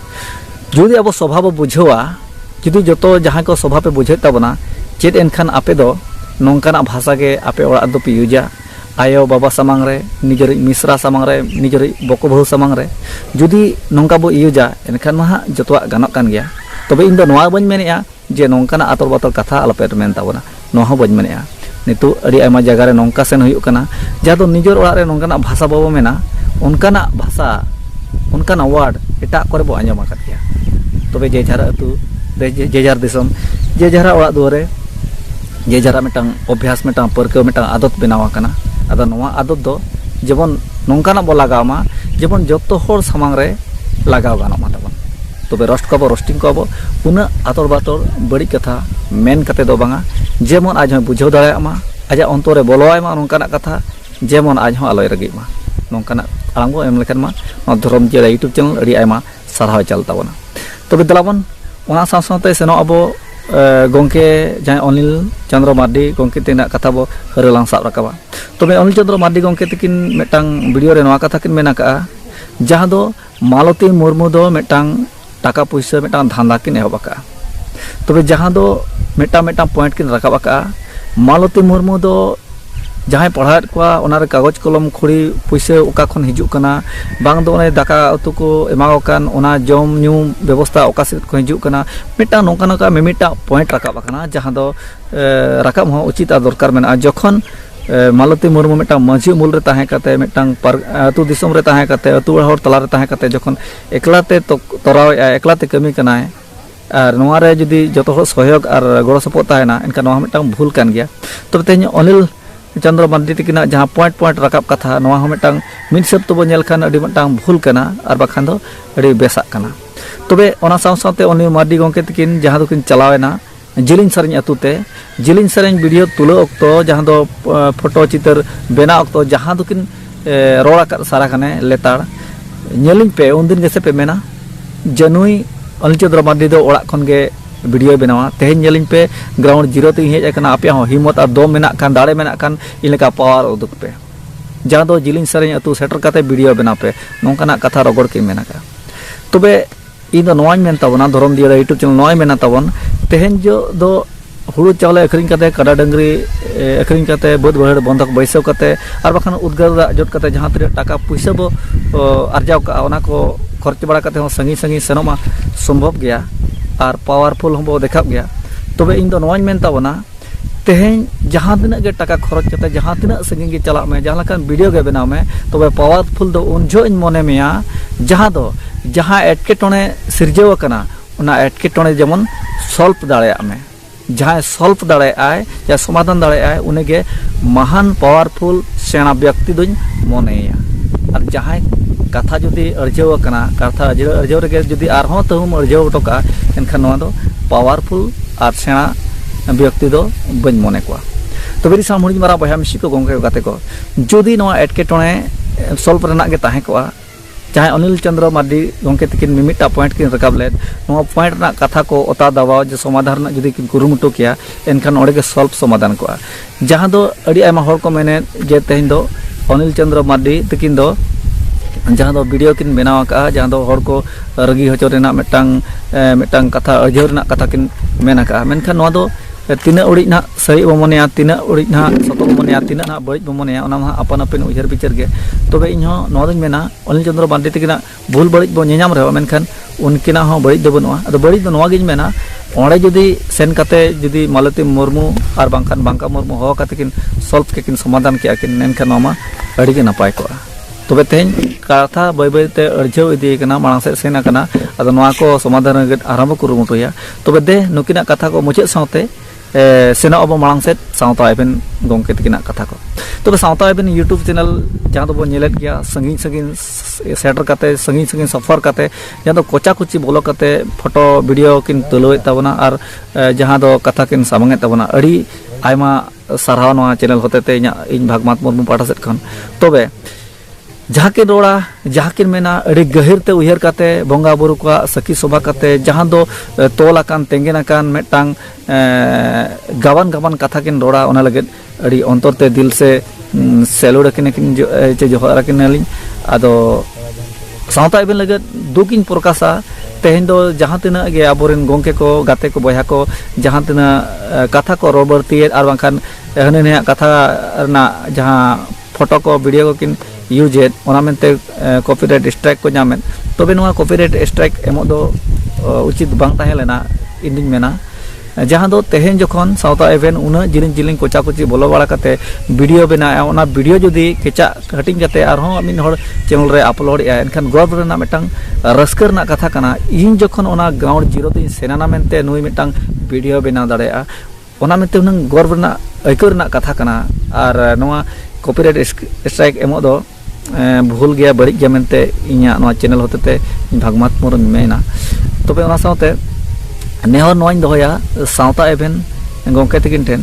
ᱡᱩᱫᱤ ᱟᱵᱚ ᱥᱚᱵᱷᱟ ᱵᱚ ᱵᱩᱡᱷᱟᱹᱣᱟ ᱡᱩᱫᱤ ᱡᱚᱛᱚ ᱡᱟᱦᱟᱸ ᱠᱚ ᱥᱚᱵᱷᱟ ᱯᱮ ᱵᱩᱡᱷᱟᱹᱣ ᱛᱟᱵᱚᱱᱟ ᱪᱮᱫ ᱮᱱᱠᱷᱟᱱ ᱟᱯᱮ ᱫᱚ ᱱᱚᱝᱠᱟᱱᱟᱜ ᱵᱷᱟᱥᱟ ᱜᱮ ᱟᱯᱮ ᱚᱲᱟᱜ ᱫᱚᱯᱮ ᱤᱭᱩᱡᱟ ᱟᱭᱳ ᱵᱟᱵᱟ ᱥᱟᱢᱟᱝ ᱨᱮ ᱱᱤᱡᱮᱨ ᱢᱤᱥᱨᱟ ᱥᱟᱢᱟᱝ ᱨᱮ ᱱᱤᱡᱮᱨ ᱵᱚᱠᱚ ᱵᱟᱹᱦᱩ ᱥᱟᱢᱟᱝ ᱨᱮ ᱡᱩᱫᱤ ᱱᱚᱝᱠᱟ ᱵᱚ ᱤᱭᱩᱡᱟ ᱮᱱᱠᱷᱟᱱ ᱢᱟ ᱦᱟᱸᱜ ᱡᱚᱛᱚᱣᱟᱜ ᱜᱟᱱᱚᱜ ᱠᱟᱱ ᱜᱮᱭᱟ ᱛᱚᱵᱮ ᱤᱧ ᱫᱚ ᱱᱚᱣᱟ ᱵᱟᱹᱧ ᱢᱮᱱᱮᱜᱼᱟ ᱡᱮ ᱱᱚᱝᱠᱟᱱᱟᱜ ᱟᱛᱚᱲ ᱵᱟᱛᱚᱲ ᱠᱟᱛᱷᱟ ᱟᱞᱚᱯᱮ ᱢᱮᱱ ᱛᱟᱵᱚᱱᱟ ᱱᱚᱣᱟ ᱦᱚᱸ ᱵᱟᱹᱧ ᱢᱮᱱᱮᱜᱼᱟ ᱱᱤᱛᱚᱜ ᱟᱹᱰᱤ ᱟᱭᱢᱟ ᱡᱟᱭᱜᱟ ᱨᱮ ᱱᱚᱝᱠᱟ ᱥᱮᱱ ᱦᱩᱭᱩᱜ ᱠᱟᱱᱟ ᱡᱟᱦᱟᱸ ᱫᱚ ᱱᱤᱡᱚᱨ ᱚᱲᱟᱜ ᱨᱮ ᱱᱚᱝᱠᱟᱱᱟᱜ ᱵᱷᱟᱥᱟ ᱵᱟᱵᱚ ᱢᱮᱱᱟ ᱚᱱᱠᱟᱱᱟᱜ ᱵᱷᱟᱥᱟ ᱚᱱᱠᱟᱱᱟᱜ ᱣᱟᱨᱰ ᱮᱴᱟᱜ ᱠᱚᱨᱮ ᱵᱚ ᱟᱸᱡᱚᱢ ᱟᱠᱟᱫ ᱜᱮᱭᱟ ᱛᱚᱵᱮ ᱡᱮ ᱡᱟᱦᱟᱨ ᱟᱹᱛᱩ ᱨᱮ ᱡᱮ ᱡᱟᱦᱟᱨ ᱫᱤᱥᱚᱢ ᱡᱮ ᱡᱟᱦᱟᱨ ᱚᱲᱟᱜ ᱫᱩᱣᱟᱹᱨ ᱨᱮ ᱡᱮ ᱡᱟᱦᱟᱨ ᱢᱤᱫᱴᱟᱝ ᱚᱵᱷᱭᱟᱥ ᱢᱤᱫᱴᱟᱝ ᱯᱟᱹᱨᱠᱟᱹᱣ ᱢᱤᱫᱴᱟᱝ ᱟᱫᱚᱛ ᱵᱮᱱᱟᱣ ᱟᱠᱟᱱᱟ ᱟᱫᱚ ᱱᱚᱣᱟ ᱟᱫᱚᱛ ᱫᱚ ᱡᱮᱢᱚᱱ ᱱᱚᱝᱠᱟᱱᱟᱜ ᱵᱚ ᱞᱟᱜᱟᱣ ᱢᱟ ᱡᱮᱢᱚᱱ ᱡᱚᱛᱚ ᱦᱚᱲ ᱥᱟᱢᱟᱝ ᱨᱮ ᱞᱟᱜᱟᱣ ᱜᱟᱱᱚᱜ ᱢᱟ ᱛᱟᱵᱚᱱ ᱛᱚᱵᱮ ᱨᱚᱥᱴ ᱠᱚᱣᱟᱵᱚ ᱨᱚᱥᱴᱤᱝ ᱠᱚᱣᱟᱵᱚ ᱩᱱᱟᱹᱜ ᱟᱛᱚᱲ ᱵᱟᱛᱚᱲ ᱵᱟᱹᱲᱤᱡ ᱠᱟᱛᱷᱟ ᱢᱮᱱ ᱠᱟᱛᱮ ᱫᱚ ᱵᱟᱝᱟ ᱡᱮᱢᱚᱱ ᱟᱡ ᱦᱚᱸ ᱵᱩᱡᱷᱟᱹᱣ ᱫᱟᱲᱮᱭᱟᱜ ᱢᱟ ᱟᱡᱟᱜ ᱚᱱᱛᱚᱨ ᱨᱮ ᱵᱚᱞᱚ ᱟᱭ ᱢᱟ ᱱᱚᱝᱠᱟᱱᱟᱜ ᱠᱟᱛᱷᱟ ᱡᱮᱢᱚᱱ ᱟᱡ ᱦᱚᱸ ᱟᱞᱚᱭ ᱨᱟᱹᱜᱤᱜ ᱢᱟ ᱱᱚᱝᱠᱟᱱᱟᱜ ᱟᱲᱟᱝ ᱵᱚ ᱮᱢ ᱞᱮᱠᱷᱟᱱ ᱢᱟ ᱱᱚᱣᱟ ᱫᱷᱚᱨᱚᱢ ᱡᱤᱭᱟᱹᱲᱟ ᱤᱭᱩᱴᱩᱵᱽ ᱪᱮᱱᱮᱞ ᱟᱹᱰᱤ ᱟᱭᱢᱟ ᱥᱟᱨᱦᱟᱣ ᱪᱟᱞ ᱛᱟᱵᱚᱱᱟ ᱛᱚᱵᱮ ᱫᱮᱞᱟ ᱵᱚᱱ ᱚᱱᱟ ᱥᱟᱶ ᱥᱟᱶᱛᱮ ᱥᱮᱱᱚᱜ ᱟᱵᱚ ᱜᱚᱝᱠᱮ ᱡᱟᱦᱟᱸᱭ ᱚᱱᱤᱞ ᱪᱚᱱᱫᱨᱚ ᱢᱟᱨᱰᱤ ᱜᱚᱝᱠᱮ ᱛᱤᱱᱟᱹᱜ ᱠᱟᱛᱷᱟ ᱵᱚ ᱦᱟᱹᱨᱟᱹᱞᱟᱝ ᱥᱟᱵ ᱨᱟᱠᱟᱵᱟ ᱛᱚᱵᱮ ᱚᱱᱤᱞ ᱪᱚᱱᱫᱨᱚ ᱢᱟᱨᱰᱤ ᱜᱚᱝᱠᱮ ᱛᱤᱠᱤᱱ ᱢᱤᱫᱴᱟᱝ ᱵᱷᱤᱰᱤᱭᱳ ᱨᱮ ᱱᱚᱣᱟ ᱠᱟᱛᱷᱟ ᱠᱤᱱ ᱢᱮᱱ ᱟᱠᱟᱜᱼᱟ ᱡᱟᱦᱟᱸ ᱫᱚ ᱢᱟᱞᱚᱛᱤ ᱢᱩᱨᱢᱩ ᱫᱚ ᱢᱤᱫᱴᱟᱝ ᱴᱟᱠᱟ ᱯᱩᱭᱥᱟᱹ ᱢᱤᱫᱴᱟᱝ ᱫᱷᱟᱸᱫᱟ ᱠᱤᱱ ᱮᱦᱚᱵ ᱟᱠᱟᱫᱼᱟ ᱛᱚᱵᱮ ᱡᱟᱦᱟᱸ ᱫᱚ ᱢᱤᱫᱴᱟᱝ ᱢᱤᱫᱴᱟᱝ ᱯᱚᱭᱮᱱᱴ ᱠᱤᱱ ᱨᱟᱠᱟᱵ ᱟᱠᱟᱫᱼᱟ ᱢᱟᱞᱚᱛᱤ ᱢᱩᱨᱢᱩ ᱫᱚ ᱡᱟᱦᱟᱸᱭ ᱯᱟᱲᱦᱟᱣᱮᱫ ᱠᱚᱣᱟ ᱚᱱᱟᱨᱮ ᱠᱟᱜᱚᱡᱽ ᱠᱚᱞᱚᱢ ᱠᱷᱚᱲᱤ ᱯᱩᱭᱥᱟᱹ ᱚᱠᱟ ᱠᱷᱚᱱ ᱦᱤᱡᱩᱜ ᱠᱟᱱᱟ ᱵᱟᱝ ᱫᱚ ᱚᱱᱮ ᱫᱟᱠᱟ ᱩᱛᱩ ᱠᱚ ᱮᱢᱟ ᱠᱚ ᱠᱟᱱ ᱚᱱᱟ ᱡᱚᱢ ᱧᱩ ᱵᱮᱵᱚᱥᱛᱷᱟ ᱚᱠᱟ ᱥᱮᱫ ᱠᱷᱚᱱ ᱦᱤᱡᱩᱜ ᱠᱟᱱᱟ ᱢᱤᱫᱴᱟᱝ ᱱᱚᱝᱠᱟ ᱱᱚᱝᱠᱟ ᱢᱤᱢᱤᱫᱴᱟᱝ ᱯᱚᱭᱮᱱᱴ ᱨᱟᱠᱟᱵ ᱟᱠᱟᱱᱟ ᱡᱟᱦᱟᱸ ᱫᱚ ᱨᱟᱠᱟᱵ ᱦᱚᱸ ᱩᱪᱤᱛ ᱟᱨ ᱫᱚᱨᱠᱟᱨ ᱢᱮᱱᱟᱜᱼᱟ ᱡᱚᱠᱷᱚᱱ ᱢᱟᱞᱚᱛᱤ ᱢᱩᱨᱢᱩ ᱢᱤᱫᱴᱟᱝ ᱢᱟᱹᱡᱷᱤ ᱩᱢᱩᱞ ᱨᱮ ᱛᱟᱦᱮᱸ ᱠᱟᱛᱮ ᱢᱤᱫᱴᱟᱝ ᱟᱹᱛᱩ ᱫᱤᱥᱚᱢ ᱨᱮ ᱛᱟᱦᱮᱸ ᱠᱟᱛᱮ ᱟᱹᱛᱩ ᱚᱲᱟᱜ ᱦᱚᱲ ᱛᱟᱞᱟ ᱨᱮ ᱛᱟᱦᱮᱸ ᱠᱟᱛᱮ ᱡᱚᱠᱷᱚᱱ ᱮᱠᱞᱟ ᱛᱮ ᱛᱚᱨᱟᱣᱮᱜᱼᱟᱭ ᱮᱠᱞᱟ ᱛᱮ ᱠᱟᱹᱢᱤ ᱠᱟᱱᱟᱭ ᱟᱨ ᱱᱚᱣᱟ ᱨᱮ ᱡᱩᱫᱤ ᱡᱚᱛᱚ ᱦᱚᱲ ᱥᱚᱦᱚᱭᱚᱜᱽ ᱟᱨ ᱜᱚᱲᱚ ᱥᱚᱯᱚᱦᱚᱫ ᱛᱟᱦᱮᱱᱟ ᱮᱱᱠᱷᱟᱱ ᱱᱚᱣᱟ ᱦᱚᱸ ᱢᱤᱫᱴᱟᱝ ᱵᱷᱩᱞ ᱠᱟᱱ ᱜᱮᱭᱟ ᱛᱚᱵᱮ ᱛᱮᱦᱮᱧ ᱚᱱᱤᱞ ᱪᱚᱱᱫᱨᱚ ᱢᱟᱱᱰᱤ ᱛᱤᱠᱤᱱᱟᱜ ᱡᱟᱦᱟᱸ ᱯᱚᱭᱮᱱᱴ ᱯᱚᱭᱮᱱᱴ ᱨᱟᱠᱟᱵ ᱠᱟᱛᱷᱟ ᱱᱚᱣᱟ ᱦᱚᱸ ᱢᱤᱫᱴᱟᱝ ᱢᱤᱫ ᱦᱤᱥᱟᱹᱵ ᱛᱮᱵᱚ ᱧᱮᱞ ᱠᱷᱟᱱ ᱟᱹᱰᱤ ᱢᱤᱫᱴᱟᱝ ᱵᱷᱩᱞ ᱠᱟᱱᱟ ᱟᱨ ᱵᱟᱠᱷᱟᱱ ᱫᱚ ᱟᱹᱰᱤ ᱵᱮᱥᱟᱜ ᱠᱟᱱᱟ ᱛᱚᱵᱮ ᱚᱱᱟ ᱥᱟᱶ ᱥᱟᱶᱛᱮ ᱩᱱᱤ ᱢᱟᱨᱰᱤ ᱜᱚᱢᱠᱮ ᱛᱤᱠᱤᱱ ᱡᱟᱦᱟᱸ ᱫᱚᱠᱤᱱ ᱪᱟᱞᱟᱣᱮᱱᱟ ᱡᱤᱞᱤᱧ ᱥᱟᱨᱮᱧ ᱟᱹᱛᱩ ᱛᱮ ᱡᱤᱞᱤᱧ ᱥᱟᱨᱮᱧ ᱵᱷᱤᱰᱤᱭᱳ ᱛᱩᱞᱟᱹᱣ ᱚᱠᱛᱚ ᱡᱟᱦᱟᱸ ᱫᱚ ᱯᱷᱳᱴᱳ ᱪᱤᱛᱟᱹᱨ ᱵᱮᱱᱟᱣ ᱚᱠᱛᱚ ᱡᱟᱦᱟᱸ ᱫᱚᱠᱤᱱ ᱨᱚᱲ ᱟᱠᱟᱫ ᱥᱟᱨᱟ ᱠᱷᱟᱱᱮ ᱞᱮᱛᱟᱲ ᱧᱮᱞᱤᱧ ᱯᱮ ᱩᱱᱫᱤᱱ ᱜᱮᱥᱮ ᱯᱮ ᱢᱮᱱᱟ ᱡᱟᱹᱱᱩᱭ ᱚᱱᱤᱞ ᱪᱚᱸᱫᱽᱨᱚ ᱢᱟᱨᱰᱤ ᱫᱚ ᱚᱲᱟᱜ ᱠᱷᱚᱱ ᱜᱮ ᱵᱷᱤᱰᱤᱭᱳ ᱵᱮᱱᱟᱣᱟ ᱛᱮᱦᱮᱧ ᱧᱮᱞᱤᱧ ᱯᱮ ᱜᱨᱟᱣᱩᱱᱰ ᱡᱤᱨᱳ ᱛᱮᱧ ᱦᱮᱡ ᱟᱠᱟᱱᱟ ᱟᱯᱮ ᱦᱚᱸ ᱦᱤᱢᱚᱛ ᱟᱨ ᱫᱚᱢ ᱢᱮᱱᱟᱜ ᱠᱷᱟᱱ ᱫᱟᱲᱮ ᱢᱮᱱᱟᱜ ᱠᱷᱟᱱ ᱤᱧ ᱞᱮᱠᱟ ᱯᱟᱣᱟᱨ ᱩᱫᱩᱜ ᱯᱮ ᱡᱟᱦᱟᱸ ᱫᱚ ᱡᱤᱞᱤᱧ ᱥᱟᱨᱮᱧ ᱟᱹᱛᱩ ᱥᱮᱴᱮᱨ ᱠᱟᱛᱮ ᱵᱷᱤᱰᱤᱭᱳ ᱵᱮᱱᱟᱣ ᱯᱮ ᱱᱚᱝᱠᱟᱱᱟᱜ ᱠᱟᱛᱷᱟ ᱨᱚᱜᱚᱲ ᱠᱤᱱ ᱢᱮᱱ ᱟᱠᱟᱫᱼᱟ ᱛᱚᱵᱮ ᱤᱧ ᱫᱚ ᱱᱚᱣᱟᱧ ᱢᱮᱱ ᱛᱟᱵᱚᱱᱟ ᱫᱷᱚᱨᱚᱢ ᱫᱤᱭᱟᱹᱲᱟ ᱤᱭᱩᱴᱩᱵᱽ ᱪᱮᱱᱮᱞ ᱱᱚᱣᱟᱭ ᱢᱮᱱᱟ ᱛᱟᱵᱚᱱ ᱛᱮᱦᱮᱧ ᱡᱚ ᱫᱚ ᱦᱩᱲᱩ ᱪᱟᱣᱞᱮ ᱟᱹᱠᱷᱨᱤᱧ ᱠᱟᱛᱮ ᱠᱟᱰᱟ ᱰᱟᱹᱝᱨᱤ ᱟᱹᱠᱷᱨᱤᱧ ᱠᱟᱛᱮ ᱵᱟᱹᱫᱽ ᱵᱟᱹᱭᱦᱟᱹᱲ ᱵᱚᱱᱫᱷᱚᱠ ᱵᱟᱹᱭᱥᱟᱹᱣ ᱠᱟᱛᱮ ᱟᱨ ᱵᱟᱠᱷᱟᱱ ᱩᱫᱽᱜᱟᱹᱨ ᱫᱟᱜ ᱡᱚᱫ ᱠᱟᱛᱮ ᱡᱟᱦᱟᱸ ᱛᱤᱱᱟᱹᱜ ᱴᱟᱠᱟ ᱯᱩᱭᱥᱟᱹ ᱵᱚ ᱟᱨᱡᱟᱣ ᱠᱟᱜᱼᱟ ᱚᱱᱟ ᱠᱚ ᱠᱷᱚᱨᱚᱪ ᱵᱟᱲᱟ ᱠᱟᱛᱮ ᱦᱚᱸ ᱥᱟᱺᱜᱤᱧ ᱥᱟᱺᱜᱤᱧ ᱥᱮᱱᱚᱜ ᱢᱟ ᱥᱚᱢᱵᱷᱚᱵᱽ ᱜᱮᱭᱟ ᱟᱨ ᱯᱟᱣᱟᱨᱯᱷᱩᱞ ᱦᱚᱸᱵᱚ ᱫᱮᱠᱷᱟᱜ ᱜᱮᱭᱟ ᱛᱚᱵᱮ ᱤᱧ ᱫᱚ ᱱᱚᱣᱟᱧ ᱢᱮᱱ ᱛᱟᱵᱚᱱᱟ ᱛᱮᱦᱮᱧ ᱡᱟᱦᱟᱸ ᱛᱤᱱᱟᱹᱜ ᱜᱮ ᱴᱟᱠᱟ ᱠᱷᱚᱨᱚᱪ ᱠᱟᱛᱮ ᱡᱟᱦᱟᱸ ᱛᱤᱱᱟᱹᱜ ᱥᱟᱺᱜᱤᱧ ᱜᱮ ᱪᱟᱞᱟᱜ ᱢᱮ ᱡᱟᱦᱟᱸ ᱞᱮᱠᱟᱱ ᱵᱷᱤᱰᱤᱭᱳ ᱜᱮ ᱵᱮᱱᱟᱣ ᱢᱮ ᱛᱚᱵᱮ ᱯᱟᱣᱟᱨᱯᱷᱩᱞ ᱫᱚ ᱩᱱ ᱡᱚᱦᱚᱜ ᱤᱧ ᱢᱚᱱᱮ ᱢᱮᱭᱟ ᱡᱟᱦᱟᱸ ᱫᱚ ᱡᱟᱦᱟᱸ ᱮᱴᱠᱮᱴᱚᱬᱮ ᱥᱤᱨᱡᱟᱹᱣ ᱟᱠᱟᱱᱟ ᱚᱱᱟ ᱮᱴᱠᱮᱴᱚᱬᱮ ᱡᱮᱢᱚᱱ ᱥᱚᱞᱵᱷ ᱫᱟᱲᱮᱭᱟᱜ ᱢᱮ ᱡᱟᱦᱟᱸᱭ ᱥᱚᱞᱵᱷ ᱫᱟᱲᱮᱭᱟᱜᱼᱟᱭ ᱡᱟᱦᱟᱸᱭ ᱥᱚᱢᱟᱫᱷᱟᱱ ᱫᱟᱲᱮᱭᱟᱜᱼᱟᱭ ᱩᱱᱤᱜᱮ ᱢᱟᱦᱟᱱ ᱯᱟᱣᱟᱨᱯᱷᱩᱞ ᱥᱮᱬᱟ ᱵᱮᱠᱛᱤ ᱫᱚᱧ ᱢᱚᱱᱮᱭᱟ ᱟᱨ ᱡᱟᱦᱟᱸᱭ ᱠᱟᱛᱷᱟ ᱡᱩᱫᱤ ᱟᱹᱲᱡᱷᱟᱹᱣ ᱟᱠᱟᱱᱟ ᱠᱟᱛᱷᱟ ᱟᱹᱲᱡᱷᱟᱹᱣ ᱨᱮᱜᱮ ᱡᱩᱫᱤ ᱟᱨᱦᱚᱸ ᱛᱟᱹᱣᱮᱢ ᱟᱹᱲᱡᱷᱟᱹᱣ ᱦᱚᱴᱚ ᱠᱟᱜᱼᱟ ᱮᱱᱠᱷᱟᱱ ᱱᱚᱣᱟ ᱫᱚ ᱯᱟᱣᱟᱨᱯᱷᱩᱞ ᱟᱨ ᱥᱮᱬᱟ ᱵᱤᱨᱚᱠᱛᱤ ᱫᱚ ᱵᱟᱹᱧ ᱢᱚᱱᱮ ᱠᱚᱣᱟ ᱛᱚᱵᱮ ᱫᱤᱥᱚᱢ ᱦᱩᱰᱤᱧ ᱢᱟᱨᱟᱝ ᱵᱚᱭᱦᱟ ᱢᱤᱥᱤ ᱠᱚ ᱜᱚᱝᱠᱮ ᱠᱚ ᱜᱟᱛᱮ ᱠᱚ ᱡᱩᱫᱤ ᱱᱚᱣᱟ ᱮᱴᱠᱮᱴᱚᱬᱮ ᱥᱚᱞᱵᱷ ᱨᱮᱱᱟᱜ ᱜᱮ ᱛᱟᱦᱮᱸ ᱠᱚᱜᱼᱟ ᱡᱟᱦᱟᱸᱭ ᱚᱱᱤᱞ ᱪᱚᱱᱫᱨᱚ ᱢᱟᱨᱰᱤ ᱜᱚᱝᱠᱮ ᱛᱤᱠᱤᱱ ᱢᱤᱢᱤᱫᱴᱟ ᱯᱚᱭᱮᱱᱴ ᱠᱤᱱ ᱨᱟᱠᱟᱵ ᱞᱮᱫ ᱱᱚᱣᱟ ᱯᱚᱭᱮᱱᱴ ᱨᱮᱱᱟᱜ ᱠᱟᱛᱷᱟ ᱠᱚ ᱚᱛᱟ ᱫᱟᱵᱟᱣ ᱡᱮ ᱥᱚᱢᱟᱫᱷᱟᱱ ᱨᱮᱱᱟᱜ ᱡᱩᱫᱤ ᱠᱤᱱ ᱠᱩᱨᱩᱢᱩᱴᱩ ᱠᱮᱭᱟ ᱮᱱᱠᱷᱟᱱ ᱚᱸᱰᱮ ᱜᱮ ᱥᱚᱞᱵᱷ ᱥᱚᱢᱟᱫᱷᱟᱱ ᱠᱚᱜᱼᱟ ᱡᱟᱦᱟᱸ ᱫᱚ ᱟᱹᱰᱤ ᱟᱭᱢᱟ ᱦᱚᱲ ᱠᱚ ᱢᱮᱱᱮᱫ ᱡᱮ ᱛᱮᱦᱮᱧ ᱫᱚ ᱚᱱᱤᱞ ᱪᱚᱱᱫᱨᱚ ᱢᱟᱨᱰᱤ ᱛᱟᱹᱠᱤᱱ ᱫᱚ ᱡᱟᱦᱟᱸ ᱫᱚ ᱵᱷᱤᱰᱤᱭᱳ ᱠᱤᱱ ᱵᱮᱱᱟᱣ ᱟᱠᱟᱫᱼᱟ ᱡᱟᱦᱟᱸ ᱫᱚ ᱦᱚᱲ ᱠᱚ ᱨᱟᱹᱜᱤ ᱦᱚᱪᱚ ᱨᱮᱱᱟᱜ ᱢᱤᱫᱴᱟᱝ ᱢᱤᱫᱴᱟᱝ ᱠᱟᱛᱷᱟ ᱟᱹᱲᱡᱷᱟᱹᱣ ᱨᱮᱱᱟᱜ ᱠᱟᱛᱷᱟ ᱠᱤᱱ ᱢᱮᱱ ᱟᱠᱟᱫᱼᱟ ᱢᱮᱱᱠᱷᱟᱱ ᱱᱚᱣᱟ ᱫᱚ ᱛᱤᱱᱟᱹᱜ ᱩᱲᱤᱡ ᱱᱟᱦᱟᱜ ᱥᱟᱹᱦᱤ ᱵᱚᱱ ᱢᱚᱱᱮᱭᱟ ᱛᱤᱱᱟᱹᱜ ᱩᱲᱤᱡ ᱱᱟᱦᱟᱜ ᱥᱚᱛᱚ ᱵᱚᱱ ᱢᱚᱱᱮᱭᱟ ᱛᱤᱱᱟᱹᱜ ᱱᱟᱦᱟᱜ ᱵᱟᱹᱲᱤᱡ ᱵᱚᱱ ᱢᱚᱱᱮᱭᱟ ᱚᱱᱟ ᱢᱟ ᱟᱯᱟᱱ ᱟᱹᱯᱤᱱ ᱩᱭᱦᱟᱹᱨ ᱵᱤᱪᱟᱹᱨ ᱜᱮ ᱛᱚᱵᱮ ᱤᱧ ᱦᱚᱸ ᱱᱚᱣᱟ ᱫᱚᱧ ᱢᱮᱱᱟ ᱚᱱᱤᱞ ᱪᱚᱱᱫᱨᱚ ᱢᱟᱨᱰᱤ ᱛᱟᱹᱠᱤᱱᱟᱜ ᱵᱷᱩᱞ ᱵᱟᱹᱲᱤᱡ ᱵᱚᱱ ᱧᱮᱧᱟᱢ ᱨᱮᱦᱚᱸ ᱢᱮᱱᱠᱷᱟᱱ ᱩᱱᱠᱤᱱᱟᱜ ᱦᱚᱸ ᱵᱟᱹᱲᱤᱡ ᱫᱚ ᱵᱟᱹᱱᱩᱜᱼᱟ ᱟᱫᱚ ᱵᱟᱹᱲᱤᱡ ᱫᱚ ᱱᱚᱣᱟ ᱜᱤᱧ ᱢᱮᱱᱟ ᱚᱸᱰᱮ ᱡᱩᱫᱤ ᱥᱮᱱ ᱠᱟᱛᱮ ᱡᱩᱫᱤ ᱢᱟᱞᱚᱛᱤ ᱢᱩᱨᱢᱩ ᱟᱨ ᱵᱟᱝᱠᱷᱟᱱ ᱵᱟᱝᱠᱟ ᱢᱩᱨᱢᱩ ᱦᱚᱦᱚ ᱠᱟᱛᱮ ᱠᱤᱱ ᱥᱚᱞᱵᱷ ᱠᱮᱠᱤᱱ ᱥᱚᱢᱟᱫᱷᱟᱱ ᱠᱮᱜᱼᱟ ᱠᱤᱱ ᱢᱮᱱᱠᱷᱟᱱ ᱱᱚᱣᱟ ᱢᱟ ᱟᱹᱰᱤ ᱜᱮ ᱱᱟᱯᱟᱭ ᱠᱚᱜᱼᱟ ᱛᱚᱵᱮ ᱛᱮᱦᱮᱧ ᱠᱟᱛᱷᱟ ᱵᱟᱹᱭ ᱵᱟᱹᱭ ᱛᱮ ᱟᱹᱲᱡᱷᱟᱹᱣ ᱤᱫᱤ ᱠᱟᱱᱟ ᱢᱟᱲᱟᱝ ᱥᱮᱫ ᱥᱮᱱ ᱟᱠᱟᱱᱟ ᱟᱫᱚ ᱱᱚᱣᱟ ᱠᱚ ᱥᱚᱢᱟᱫᱷᱟᱱ ᱞᱟᱹᱜᱤᱫ ᱟᱨᱦᱚᱸ ᱵᱚ ᱠᱩᱨᱩᱢᱩᱴᱩᱭᱟ ᱛᱚᱵᱮ ᱫᱮ ᱱᱩᱠᱤᱱᱟᱜ ᱠᱟᱛᱷᱟ ᱠᱚ ᱢᱩᱪᱟᱹᱫ ᱥᱟᱶᱛᱮ ᱥᱮᱱᱚᱜ ᱟᱵᱚ ᱢᱟᱲᱟᱝ ᱥᱮᱫ ᱥᱟᱶᱛᱟ ᱟᱭᱵᱮᱱ ᱜᱚᱢᱠᱮ ᱛᱟᱹᱠᱤᱱᱟᱜ ᱠᱟᱛᱷᱟ ᱠᱚ ᱛᱚᱵᱮ ᱥᱟᱶᱛᱟ ᱟᱭᱵᱮᱱ ᱤᱭᱩᱴᱩᱵᱽ ᱪᱮᱱᱮᱞ ᱡᱟᱦᱟᱸ ᱫᱚᱵᱚᱱ ᱧᱮᱞᱮᱫ ᱜᱮᱭᱟ ᱥᱟᱺᱜᱤᱧ ᱥᱟᱺᱜᱤᱧ ᱥᱮᱴᱮᱨ ᱠᱟᱛᱮ ᱥᱟᱺᱜᱤᱧ ᱥᱟᱺᱜᱤᱧ ᱥᱚᱯᱷᱚᱨ ᱠᱟᱛᱮ ᱡᱟᱦᱟᱸ ᱫᱚ ᱠᱚᱪᱟ ᱠᱚᱪᱤ ᱵᱚᱞᱚ ᱠᱟᱛᱮ ᱯᱷᱳᱴᱳ ᱵᱷᱤᱰᱤᱭᱳ ᱠᱤᱱ ᱛᱩᱞᱟᱹᱣᱮᱫ ᱛᱟᱵᱚᱱᱟ ᱟᱨ ᱡᱟᱦᱟᱸ ᱫᱚ ᱠᱟᱛᱷᱟ ᱠᱤᱱ ᱥᱟᱢᱟᱝᱮᱫ ᱛᱟᱵᱚᱱᱟ ᱟᱹᱰᱤ ᱟᱭᱢᱟ ᱥᱟᱨᱦᱟᱣ ᱱᱚᱣᱟ ᱪᱮᱱᱮᱞ ᱦᱚᱛᱮᱛᱮ ᱤᱧᱟᱹᱜ ᱤᱧ ᱵᱷᱟᱜᱽᱢᱟᱛ ᱢᱩᱨᱢᱩ ᱯᱟᱦᱴᱟ ᱥᱮᱫ ᱠᱷᱚᱱ ᱛᱚᱵᱮ ᱡᱟᱦᱟᱸ ᱠᱤᱱ ᱨᱚᱲᱟ ᱡᱟᱦᱟᱸ ᱠᱤᱱ ᱢᱮᱱᱟ ᱟᱹᱰᱤ ᱜᱟᱹᱦᱤᱨ ᱛᱮ ᱩᱭᱦᱟᱹᱨ ᱠᱟᱛᱮ ᱵᱚᱸᱜᱟ ᱵᱩᱨᱩ ᱠᱚᱣᱟᱜ ᱥᱟᱹᱠᱷᱤ ᱥᱚᱵᱷᱟ ᱠᱟᱛᱮ ᱡᱟᱦᱟᱸ ᱫᱚ ᱛᱚᱞ ᱟᱠᱟᱱ ᱛᱮᱸᱜᱮᱱ ᱟᱠᱟᱱ ᱢᱤᱫᱴᱟᱝ ᱜᱟᱵᱟᱱ ᱜᱟᱵᱟᱱ ᱠᱟᱛᱷᱟ ᱠᱤᱱ ᱨᱚᱲᱟ ᱚᱱᱟ ᱞᱟᱹᱜᱤᱫ ᱟᱹᱰᱤ ᱚᱱᱛᱚᱨ ᱛᱮ ᱫᱤᱞ ᱥᱮ ᱥᱮᱞᱩᱰ ᱟᱹᱠᱤᱱ ᱟᱹᱠᱤᱱ ᱪᱮ ᱡᱚᱦᱟᱨ ᱟᱹᱠᱤᱱᱟᱞᱤᱧ ᱟᱫᱚ ᱥᱟᱶᱛᱟ ᱮᱵᱷᱮᱱ ᱞᱟᱹᱜᱤᱫ ᱫᱩᱠᱤᱧ ᱯᱨᱚᱠᱟᱥᱟ ᱛᱮᱦᱮᱧ ᱫᱚ ᱡᱟᱦᱟᱸ ᱛᱤᱱᱟᱹᱜ ᱜᱮ ᱟᱵᱚᱨᱮᱱ ᱜᱚᱝᱠᱮ ᱠᱚ ᱜᱟᱛᱮ ᱠᱚ ᱵᱚᱭᱦᱟ ᱠᱚ ᱡᱟᱦᱟᱸ ᱛᱤᱱᱟᱹᱜ ᱠᱟᱛᱷᱟ ᱠᱚ ᱨᱚᱲ ᱵᱟᱹᱲᱛᱤᱭᱮᱫ ᱟᱨ ᱵᱟᱝᱠᱷᱟᱱ ᱦᱟᱹᱱᱤ ᱱᱟᱹᱭᱟᱜ ᱠᱟᱛᱷᱟ ᱨᱮᱱᱟᱜ ᱡᱟᱦᱟᱸ ᱯᱷᱳᱴᱳ ᱠᱚ ᱵᱷᱤᱰᱤᱭᱳ ᱠᱚ ᱠᱤᱱ ᱤᱭᱩᱡᱮᱫ ᱚᱱᱟ ᱢᱮᱱᱛᱮ ᱠᱚᱯᱤᱨᱟᱭᱤᱴ ᱥᱴᱨᱟᱭᱤᱠ ᱠᱚ ᱧᱟᱢᱮᱫ ᱛᱚᱵᱮ ᱱᱚᱣᱟ ᱠᱚᱯᱤᱨᱟᱭᱤᱴ ᱥᱴᱨᱟᱭᱤᱠ ᱮᱢᱚᱜ ᱫᱚ ᱩᱪᱤᱛ ᱵᱟᱝ ᱛᱟᱦᱮᱸ ᱞᱮᱱᱟ ᱤᱧ ᱫᱩᱧ ᱢᱮᱱᱟ ᱡᱟᱦᱟᱸ ᱫᱚ ᱛᱮᱦᱮᱧ ᱡᱚᱠᱷᱚᱱ ᱥᱟᱶᱛᱟ ᱮᱵᱷᱮᱱ ᱩᱱᱟᱹᱜ ᱡᱤᱞᱤᱧ ᱡᱤᱞᱤᱧ ᱠᱚᱪᱟ ᱠᱚᱪᱤ ᱵᱚᱞᱚ ᱵᱟᱲᱟ ᱠᱟᱛᱮ ᱵᱷᱤᱰᱤᱭᱳ ᱵᱮᱱᱟᱣᱮᱫᱼᱟ ᱚᱱᱟ ᱵᱷᱤᱰᱤᱭᱳ ᱡᱩᱫᱤ ᱠᱮᱪᱟᱜ ᱦᱟᱹᱴᱤᱧ ᱠᱟᱛᱮ ᱟᱨᱦᱚᱸ ᱢᱤᱫ ᱦᱚᱲ ᱪᱮᱱᱮᱞ ᱨᱮ ᱟᱯᱞᱳᱰᱮᱜᱼᱟ ᱮᱱᱠᱷᱟᱱ ᱜᱚᱨᱵᱽ ᱨᱮᱱᱟᱜ ᱢᱤᱫᱴᱟᱝ ᱨᱟᱹᱥᱠᱟᱹ ᱨᱮᱱᱟᱜ ᱠᱟᱛᱷᱟ ᱠᱟᱱᱟ ᱤᱧ ᱡᱚᱠᱷᱚᱱ ᱚᱱᱟ ᱜᱨᱟᱣᱩᱱᱰ ᱡᱤᱨᱳ ᱛᱮᱧ ᱥᱮᱱ ᱮᱱᱟ ᱢᱮᱱᱛᱮ ᱱᱩᱭ ᱢᱤᱫᱴᱟᱝ ᱵᱷᱤᱰᱤᱭᱳ ᱵᱮᱱᱟᱣ ᱫᱟᱲᱮᱭᱟᱜᱼᱟ ᱚᱱᱟ ᱢᱮᱱᱛᱮ ᱦᱩᱱᱟᱹᱝ ᱜᱚᱨᱵ ᱨᱮᱱᱟᱜ ᱟᱹᱭᱠᱟᱹᱣ ᱨᱮᱱᱟᱜ ᱠᱟᱛᱷᱟ ᱠᱟᱱᱟ ᱟᱨ ᱱᱚᱣᱟ ᱠᱚᱯᱤᱨᱟᱭᱤᱴ ᱥᱴᱨᱟᱭᱤᱠ ᱮᱢᱚᱜ ᱫᱚ ᱵᱷᱩᱞ ᱜᱮᱭᱟ ᱵᱟᱹᱲᱤᱡ ᱜᱮᱭᱟ ᱢᱮᱱᱛᱮ ᱤᱧᱟᱹᱜ ᱱᱚᱣᱟ ᱪᱮᱱᱮᱞ ᱦᱚᱛᱮᱛᱮ ᱵᱷᱟᱜᱽᱢᱟᱛ ᱢᱩᱨᱢᱩᱧ ᱢᱮᱱᱟ ᱛᱚᱵᱮ ᱚᱱᱟ ᱥᱟᱶᱛᱮ ᱱᱮᱦᱚᱨ ᱱᱚᱣᱟᱧ ᱫᱚᱦᱚᱭᱟ ᱥᱟᱶᱛᱟ ᱮᱵᱷᱮᱱ ᱜᱚᱢᱠᱮ ᱛᱟᱹᱠᱤᱱ ᱴᱷᱮᱱ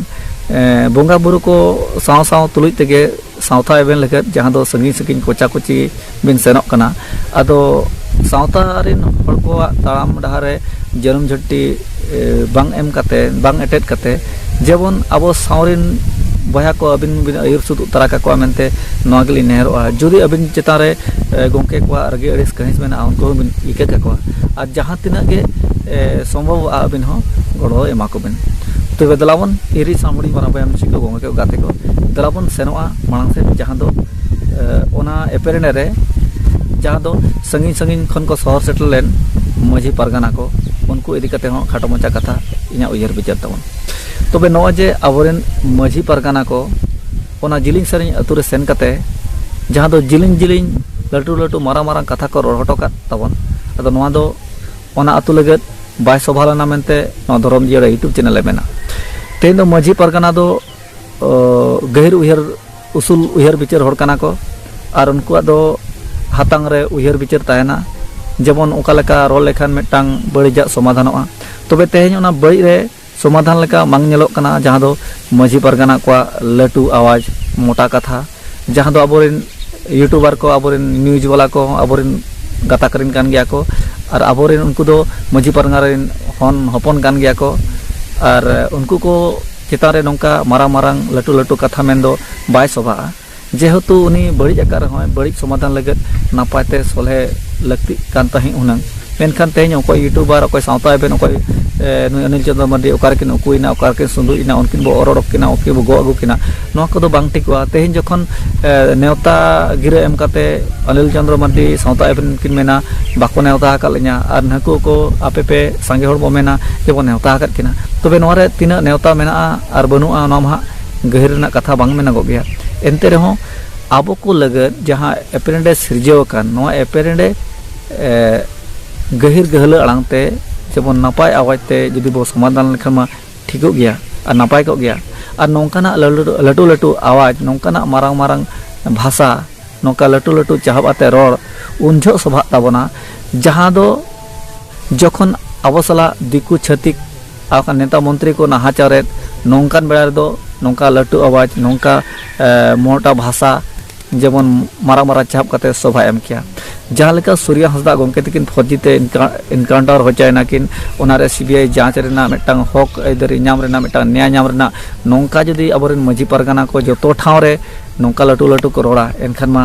ᱵᱚᱸᱜᱟ ᱵᱩᱨᱩ ᱠᱚ ᱥᱟᱶ ᱥᱟᱶ ᱛᱩᱞᱩᱡ ᱛᱮᱜᱮ ᱥᱟᱶᱛᱟ ᱮᱵᱷᱮᱱ ᱞᱟᱹᱜᱤᱫ ᱡᱟᱦᱟᱸ ᱫᱚ ᱥᱟᱺᱜᱤᱧ ᱥᱟᱺᱜᱤᱧ ᱠᱚᱪᱟ ᱠᱚᱪᱤ ᱵᱤᱱ ᱥᱮᱱᱚᱜ ᱠᱟᱱᱟ ᱟᱫᱚ ᱥᱟᱶᱛᱟ ᱨᱮᱱ ᱦᱚᱲ ᱠᱚᱣᱟᱜ ᱛᱟᱲᱟᱢ ᱰᱟᱦᱟᱨ ᱨᱮ ᱡᱟᱹᱱᱩᱢ ᱡᱷᱟᱹᱱᱴᱤ ᱵᱟᱝ ᱮᱢ ᱠᱟᱛᱮ ᱵᱟᱝ ᱮᱴᱮᱫ ᱠᱟᱛᱮ ᱡᱮᱢᱚᱱ ᱟᱵᱚ ᱥᱟᱶ ᱨᱮᱱ ᱵᱚᱭᱦᱟ ᱠᱚ ᱟᱹᱵᱤᱱ ᱵᱤᱱ ᱟᱹᱭᱩᱨ ᱥᱩᱛ ᱛᱟᱨᱟ ᱠᱟᱠᱚᱣᱟ ᱢᱮᱱᱛᱮ ᱱᱚᱣᱟ ᱜᱮᱞᱤᱧ ᱱᱮᱦᱚᱨᱚᱜᱼᱟ ᱡᱩᱫᱤ ᱟᱹᱵᱤᱱ ᱪᱮᱛᱟᱱ ᱨᱮ ᱜᱚᱢᱠᱮ ᱠᱚᱣᱟᱜ ᱨᱟᱹᱜᱤ ᱟᱹᱲᱤᱥ ᱠᱟᱹᱦᱤᱥ ᱢᱮᱱᱟᱜᱼᱟ ᱩᱱᱠᱩ ᱦᱚᱸᱵᱤᱱ ᱤᱠᱟᱹ ᱠᱟᱠᱚᱣᱟ ᱟᱨ ᱡᱟᱦᱟᱸ ᱛᱤᱱᱟᱹᱜ ᱜᱮ ᱥᱚᱢᱵᱷᱚᱵᱚᱜᱼᱟ ᱟᱹᱵᱤᱱ ᱦᱚᱸ ᱜᱚᱲᱚ ᱮᱢᱟ ᱠᱚᱵᱤᱱ ᱛᱚᱵᱮ ᱫᱮᱞᱟ ᱵᱚᱱ ᱦᱤᱨᱤᱡ ᱥᱟᱶ ᱦᱩᱰᱤᱧ ᱢᱟᱨᱟᱝ ᱵᱚᱭᱦᱟ ᱢᱤᱥᱤ ᱠᱚ ᱜᱟᱛᱮ ᱠᱚ ᱫᱮᱞᱟ ᱵᱚᱱ ᱥᱮᱱᱚᱜᱼᱟ ᱢᱟᱲᱟᱝ ᱥᱮᱫ ᱡᱟᱦᱟᱸ ᱫᱚ ᱚᱱᱟ ᱮᱯᱮᱨᱮᱱᱮ ᱨᱮ ᱡᱟᱦᱟᱸ ᱫᱚ ᱥᱟᱺᱜᱤᱧ ᱥᱟᱺᱜᱤᱧ ᱠᱷᱚᱱ ᱠᱚ ᱥᱚᱦᱚᱨ ᱥᱮᱴᱮᱨ ᱞᱮᱱ ᱢᱟᱹᱡᱷᱤ ᱯᱟᱨᱜᱟᱱᱟ ᱠᱚ ᱩᱱᱠᱩ ᱤᱫᱤ ᱠᱟᱛᱮ ᱦᱚᱸ ᱠᱷᱟᱴᱚ ᱢᱟᱪᱷᱟ ᱠᱟᱛᱷᱟ ᱤᱧᱟᱹᱜ ᱩᱭᱦᱟᱹᱨ ᱵᱤᱪᱟᱹᱨ ᱛᱟᱵᱚᱱ ᱛᱚᱵᱮ ᱱᱚᱜᱼᱚᱭ ᱡᱮ ᱟᱵᱚᱨᱮᱱ ᱢᱟᱹᱡᱷᱤ ᱯᱟᱨᱜᱟᱱᱟ ᱠᱚ ᱚᱱᱟ ᱡᱤᱞᱤᱧ ᱥᱟᱺᱜᱤᱧ ᱟᱛᱳ ᱨᱮ ᱥᱮᱱ ᱠᱟᱛᱮ ᱡᱟᱦᱟᱸ ᱫᱚ ᱡᱤᱞᱤᱧ ᱡᱤᱞᱤᱧ ᱞᱟᱹᱴᱩ ᱞᱟᱹᱴᱩ ᱢᱟᱨᱟᱝ ᱢᱟᱨᱟᱝ ᱠᱟᱛᱷᱟ ᱠᱚ ᱨᱚᱲ ᱦᱚᱴᱚ ᱠᱟᱜ ᱛᱟᱵᱚᱱ ᱟᱫᱚ ᱱᱚᱣᱟ ᱫᱚ ᱚᱱᱟ ᱟᱹᱛᱩ ᱞᱟᱹᱜᱤᱫ ᱵᱟᱭ ᱥᱚᱵᱷᱟ ᱞᱮᱱᱟ ᱢᱮᱱᱛᱮ ᱱᱚᱣᱟ ᱫᱷᱚᱨᱚᱢ ᱡᱤᱭᱟᱹᱲᱟ ᱭᱩᱴᱩᱵᱽ ᱪᱮᱱᱮᱞ ᱮ ᱢᱮᱱᱟ ᱛᱮᱦᱮᱧ ᱫᱚ ᱢᱟᱹᱡᱷᱤ ᱯᱟᱨᱜᱟᱱᱟ ᱫᱚ ᱜᱟᱹᱦᱤᱨ ᱩᱭᱦᱟᱹᱨ ᱩᱥᱩᱞ ᱩᱭᱦᱟᱹᱨ ᱵᱤᱪᱟᱹᱨ ᱦᱚᱲ ᱠᱟᱱᱟ ᱠᱚ ᱟᱨ ᱩᱱᱠᱩᱣᱟᱜ ᱫᱚ ᱦᱟᱛᱟᱝ ᱨᱮ ᱩᱭᱦᱟᱹᱨ ᱵᱤᱪᱟᱹᱨ ᱛᱟᱦᱮᱱᱟ ᱡᱮᱢᱚᱱ ᱚᱠᱟ ᱞᱮᱠᱟ ᱨᱚᱲ ᱞᱮᱠᱷᱟᱱ ᱢᱤᱫᱴᱟᱝ ᱵᱟᱹᱲᱤᱡᱟᱜ ᱥᱚᱢᱟᱫᱷᱟᱱᱚᱜᱼᱟ ᱛᱚᱵᱮ ᱛᱮᱦᱮᱧ ᱚᱱᱟ ᱵᱟᱹᱲᱤᱡ ᱨᱮ ᱥᱚᱢᱟᱫᱷᱟᱱ ᱞᱮᱠᱟ ᱵᱟᱝ ᱧᱮᱞᱚᱜ ᱠᱟᱱᱟ ᱡᱟᱦᱟᱸ ᱫᱚ ᱢᱟᱹᱡᱷᱤ ᱯᱟᱨᱜᱟᱱᱟ ᱠᱚᱣᱟᱜ ᱞᱟᱹᱴᱩ ᱟᱣᱟᱡᱽ ᱢᱚᱴᱟ ᱠᱟᱛᱷᱟ ᱡᱟᱦᱟᱸ ᱫᱚ ᱟᱵᱚ ᱨᱮᱱ ᱤᱭᱩᱴᱩᱵᱟᱨ ᱠᱚ ᱟᱵᱚ ᱨᱮᱱ ᱱᱤᱭᱩᱡᱽ ᱵᱟᱞᱟ ᱠᱚ ᱦᱚᱸ ᱟᱵᱚ ᱨᱮᱱ ᱜᱟᱛᱟᱠ ᱨᱮᱱ ᱠᱟᱱ ᱜᱮᱭᱟ ᱠᱚ ᱟᱨ ᱟᱵᱚ ᱨᱮᱱ ᱩᱱᱠᱩ ᱫᱚ ᱢᱟᱹᱡᱷᱤ ᱯᱟᱨᱜᱟᱱᱟ ᱨᱮᱱ ᱦᱚᱱ ᱦᱚᱯᱚᱱ ᱠᱟᱱ ᱜᱮᱭᱟ ᱠᱚ ᱟᱨ ᱩᱱᱠᱩ ᱠᱚ ᱪᱮᱛᱟᱱ ᱨᱮ ᱱᱚᱝᱠᱟ ᱢᱟᱨᱟᱝ ᱢᱟᱨᱟᱝ ᱞᱟᱹᱴᱩ ᱞᱟᱹᱴᱩ ᱠᱟᱛᱷᱟ ᱢᱮᱱ ᱫᱚ ᱵᱟᱭ ᱥᱚᱵᱷᱟᱜᱼᱟ ᱡᱮᱦᱮᱛᱩ ᱩᱱᱤ ᱵᱟᱹᱲᱤᱡ ᱟᱠᱟᱫ ᱨᱮᱦᱚᱸᱭ ᱵᱟᱹᱲᱤᱡ ᱥᱚᱢᱟᱫᱷᱟᱱ ᱞᱟᱹᱜᱤᱫ ᱱᱟᱯᱟᱭ ᱛᱮ ᱥᱚᱞᱦᱮ ᱞᱟᱹᱠᱛᱤᱜ ᱠᱟᱱ ᱛᱟᱦᱮᱸᱫ ᱦᱩᱱᱟᱹᱝ ᱢᱮᱱᱠᱷᱟᱱ ᱛᱮᱦᱮᱧ ᱚᱠᱚᱭ ᱤᱭᱩᱴᱩᱵᱟᱨ ᱚᱠᱚᱭ ᱥᱟᱶᱛᱟ ᱮᱵᱷᱮᱱ ᱚᱠᱚᱭ ᱱᱩᱭ ᱚᱱᱤᱞ ᱪᱚᱱᱫᱨᱚ ᱢᱟᱨᱰᱤ ᱚᱠᱟ ᱨᱮᱠᱤᱱ ᱩᱠᱩᱭᱮᱱᱟ ᱚᱠᱟ ᱨᱮᱠᱤᱱ ᱥᱩᱸᱰᱩᱡ ᱮᱱᱟ ᱩᱱᱠᱤᱱ ᱵᱚ ᱚᱨ ᱚᱰᱚᱠ ᱠᱤᱱᱟ ᱩᱱᱠᱤᱱ ᱵᱚ ᱜᱚᱜ ᱟᱹᱜᱩ ᱠᱤᱱᱟ ᱱᱚᱣᱟ ᱠᱚᱫᱚ ᱵᱟᱝ ᱴᱷᱤᱠᱚᱜᱼᱟ ᱛᱮᱦᱮᱧ ᱡᱚᱠᱷᱚᱱ ᱱᱮᱣᱛᱟ ᱜᱤᱨᱟᱹ ᱮᱢ ᱠᱟᱛᱮᱫ ᱚᱱᱤᱞ ᱪᱚᱱᱫᱨᱚ ᱢᱟᱨᱰᱤ ᱥᱟᱶᱛᱟ ᱮᱵᱷᱮᱱ ᱠᱤᱱ ᱢᱮᱱᱟ ᱵᱟᱠᱚ ᱱᱮᱣᱛᱟ ᱟᱠᱟᱫ ᱞᱤᱧᱟ ᱟᱨ ᱱᱩᱠᱩ ᱠᱚ ᱟᱯᱮ ᱯᱮ ᱥᱟᱸᱜᱮ ᱦᱚᱲ ᱵᱚ ᱢᱮᱱᱟ ᱡᱮ ᱵᱚᱱ ᱱᱮᱣᱛᱟ ᱟᱠᱟᱫ ᱠᱤᱱᱟ ᱛᱚᱵᱮ ᱱᱚᱣᱟ ᱨᱮ ᱛᱤᱱᱟᱹᱜ ᱱᱮᱣᱛᱟ ᱢᱮᱱᱟᱜᱼᱟ ᱟᱨ ᱵᱟᱹᱱᱩᱜᱼᱟ ᱚᱱᱟ ᱢᱟ ᱦᱟᱸᱜ ᱜᱟᱹᱦᱤᱨ ᱨᱮᱱᱟᱜ ᱠᱟᱛᱷᱟ ᱵᱟᱝ ᱢᱮᱱᱚᱜᱚᱜ ᱜᱮᱭᱟ ᱮᱱᱛᱮ ᱨᱮᱦᱚᱸ ᱟᱵᱚ ᱠᱚ ᱞᱟᱹᱜᱤᱫ ᱡᱟᱦᱟᱸ ᱮᱯᱮᱨᱦᱮᱸᱰᱮᱡ ᱥᱤᱨᱡᱟᱹᱣ ᱟᱠᱟᱱ ᱱᱚᱣᱟ ᱮᱯᱮᱨᱦᱮᱸᱰᱮᱡ ᱜᱟᱹᱦᱤᱨ ᱜᱟᱹᱦᱞᱟᱹ ᱟᱲᱟᱝ ᱛᱮ ᱡᱮᱢᱚᱱ ᱱᱟᱯᱟᱭ ᱟᱣᱟᱡᱽ ᱛᱮ ᱡᱩᱫᱤ ᱵᱚᱱ ᱥᱚᱢᱟᱫᱷᱟᱱ ᱞᱮᱠᱷᱟᱱ ᱢᱟ ᱴᱷᱤᱠᱚᱜ ᱜᱮᱭᱟ ᱟᱨ ᱱᱟᱯᱟᱭ ᱠᱚᱜ ᱜᱮᱭᱟ ᱟᱨ ᱱᱚᱝᱠᱟᱱᱟᱜ ᱞᱟᱹᱴᱩ ᱞᱟᱹᱴᱩ ᱟᱣᱟᱡᱽ ᱱᱚᱝᱠᱟᱱᱟᱜ ᱢᱟᱨᱟᱝ ᱢᱟᱨᱟᱝ ᱵᱷᱟᱥᱟ ᱱᱚᱝᱠᱟ ᱞᱟᱹᱴᱩ ᱞᱟᱹᱴᱩ ᱪᱟᱦᱚᱵ ᱟᱛᱮᱫ ᱨᱚᱲ ᱩᱱ ᱡᱚᱦᱚᱜ ᱥᱚᱵᱷᱟᱜ ᱛᱟᱵᱚᱱᱟ ᱡᱟᱦᱟᱸ ᱫᱚ ᱡᱚᱠᱷᱚᱱ ᱟᱵᱚ ᱥᱟᱞᱟᱜ ᱫᱤᱠᱩ ᱪᱷᱟᱹᱛᱤᱠ ᱟᱨ ᱱᱮᱛᱟ ᱢᱚᱱᱛᱨᱤ ᱠᱚ ᱱᱟᱦᱟᱪᱟᱨᱮᱫ ᱱᱚᱝᱠᱟᱱ ᱵᱮᱲᱟ ᱨᱮᱫᱚ ᱱᱚᱝᱠᱟ ᱞᱟᱹᱴᱩ ᱟᱣᱟᱡᱽ ᱱᱚᱝᱠᱟ ᱢᱚᱴᱟ ᱵᱷᱟᱥᱟ ᱡᱮᱢᱚᱱ ᱢᱟᱨᱟᱝ ᱢᱟᱨᱟᱝ ᱪᱟᱯ ᱠᱟᱛᱮ ᱥᱚᱵᱷᱟ ᱮᱢ ᱠᱮᱭᱟ ᱡᱟᱦᱟᱸ ᱞᱮᱠᱟ ᱥᱩᱨᱭᱟ ᱦᱟᱸᱥᱫᱟ ᱜᱚᱢᱠᱮ ᱛᱤᱠᱤᱱ ᱯᱷᱚᱨᱡᱤ ᱛᱮ ᱤᱱᱠᱟᱣᱩᱱᱴᱟᱨ ᱦᱚᱪᱚᱭᱮᱱᱟ ᱠᱤᱱ ᱚᱱᱟᱨᱮ ᱥᱤᱵᱤᱟᱭ ᱡᱟᱸᱪ ᱨᱮᱱᱟᱜ ᱢᱤᱫᱴᱟᱝ ᱦᱚᱠ ᱟᱹᱭᱫᱟᱹᱨᱤ ᱧᱟᱢ ᱨᱮᱱᱟᱜ ᱢᱤᱫᱴᱟᱝ ᱱᱮᱭᱟ ᱧᱟᱢ ᱨᱮᱱᱟᱜ ᱱᱚᱝᱠᱟ ᱡᱩᱫᱤ ᱟᱵᱚᱨᱮᱱ ᱢᱟᱹᱡᱷᱤ ᱯᱟᱨᱜᱟᱱᱟ ᱠᱚ ᱡᱚᱛᱚ ᱴᱷᱟᱶ ᱨᱮ ᱱᱚᱝᱠᱟ ᱞᱟᱹᱴᱩ ᱞᱟᱹᱴᱩ ᱠᱚ ᱨᱚᱲᱟ ᱮᱱᱠᱷᱟᱱ ᱢᱟ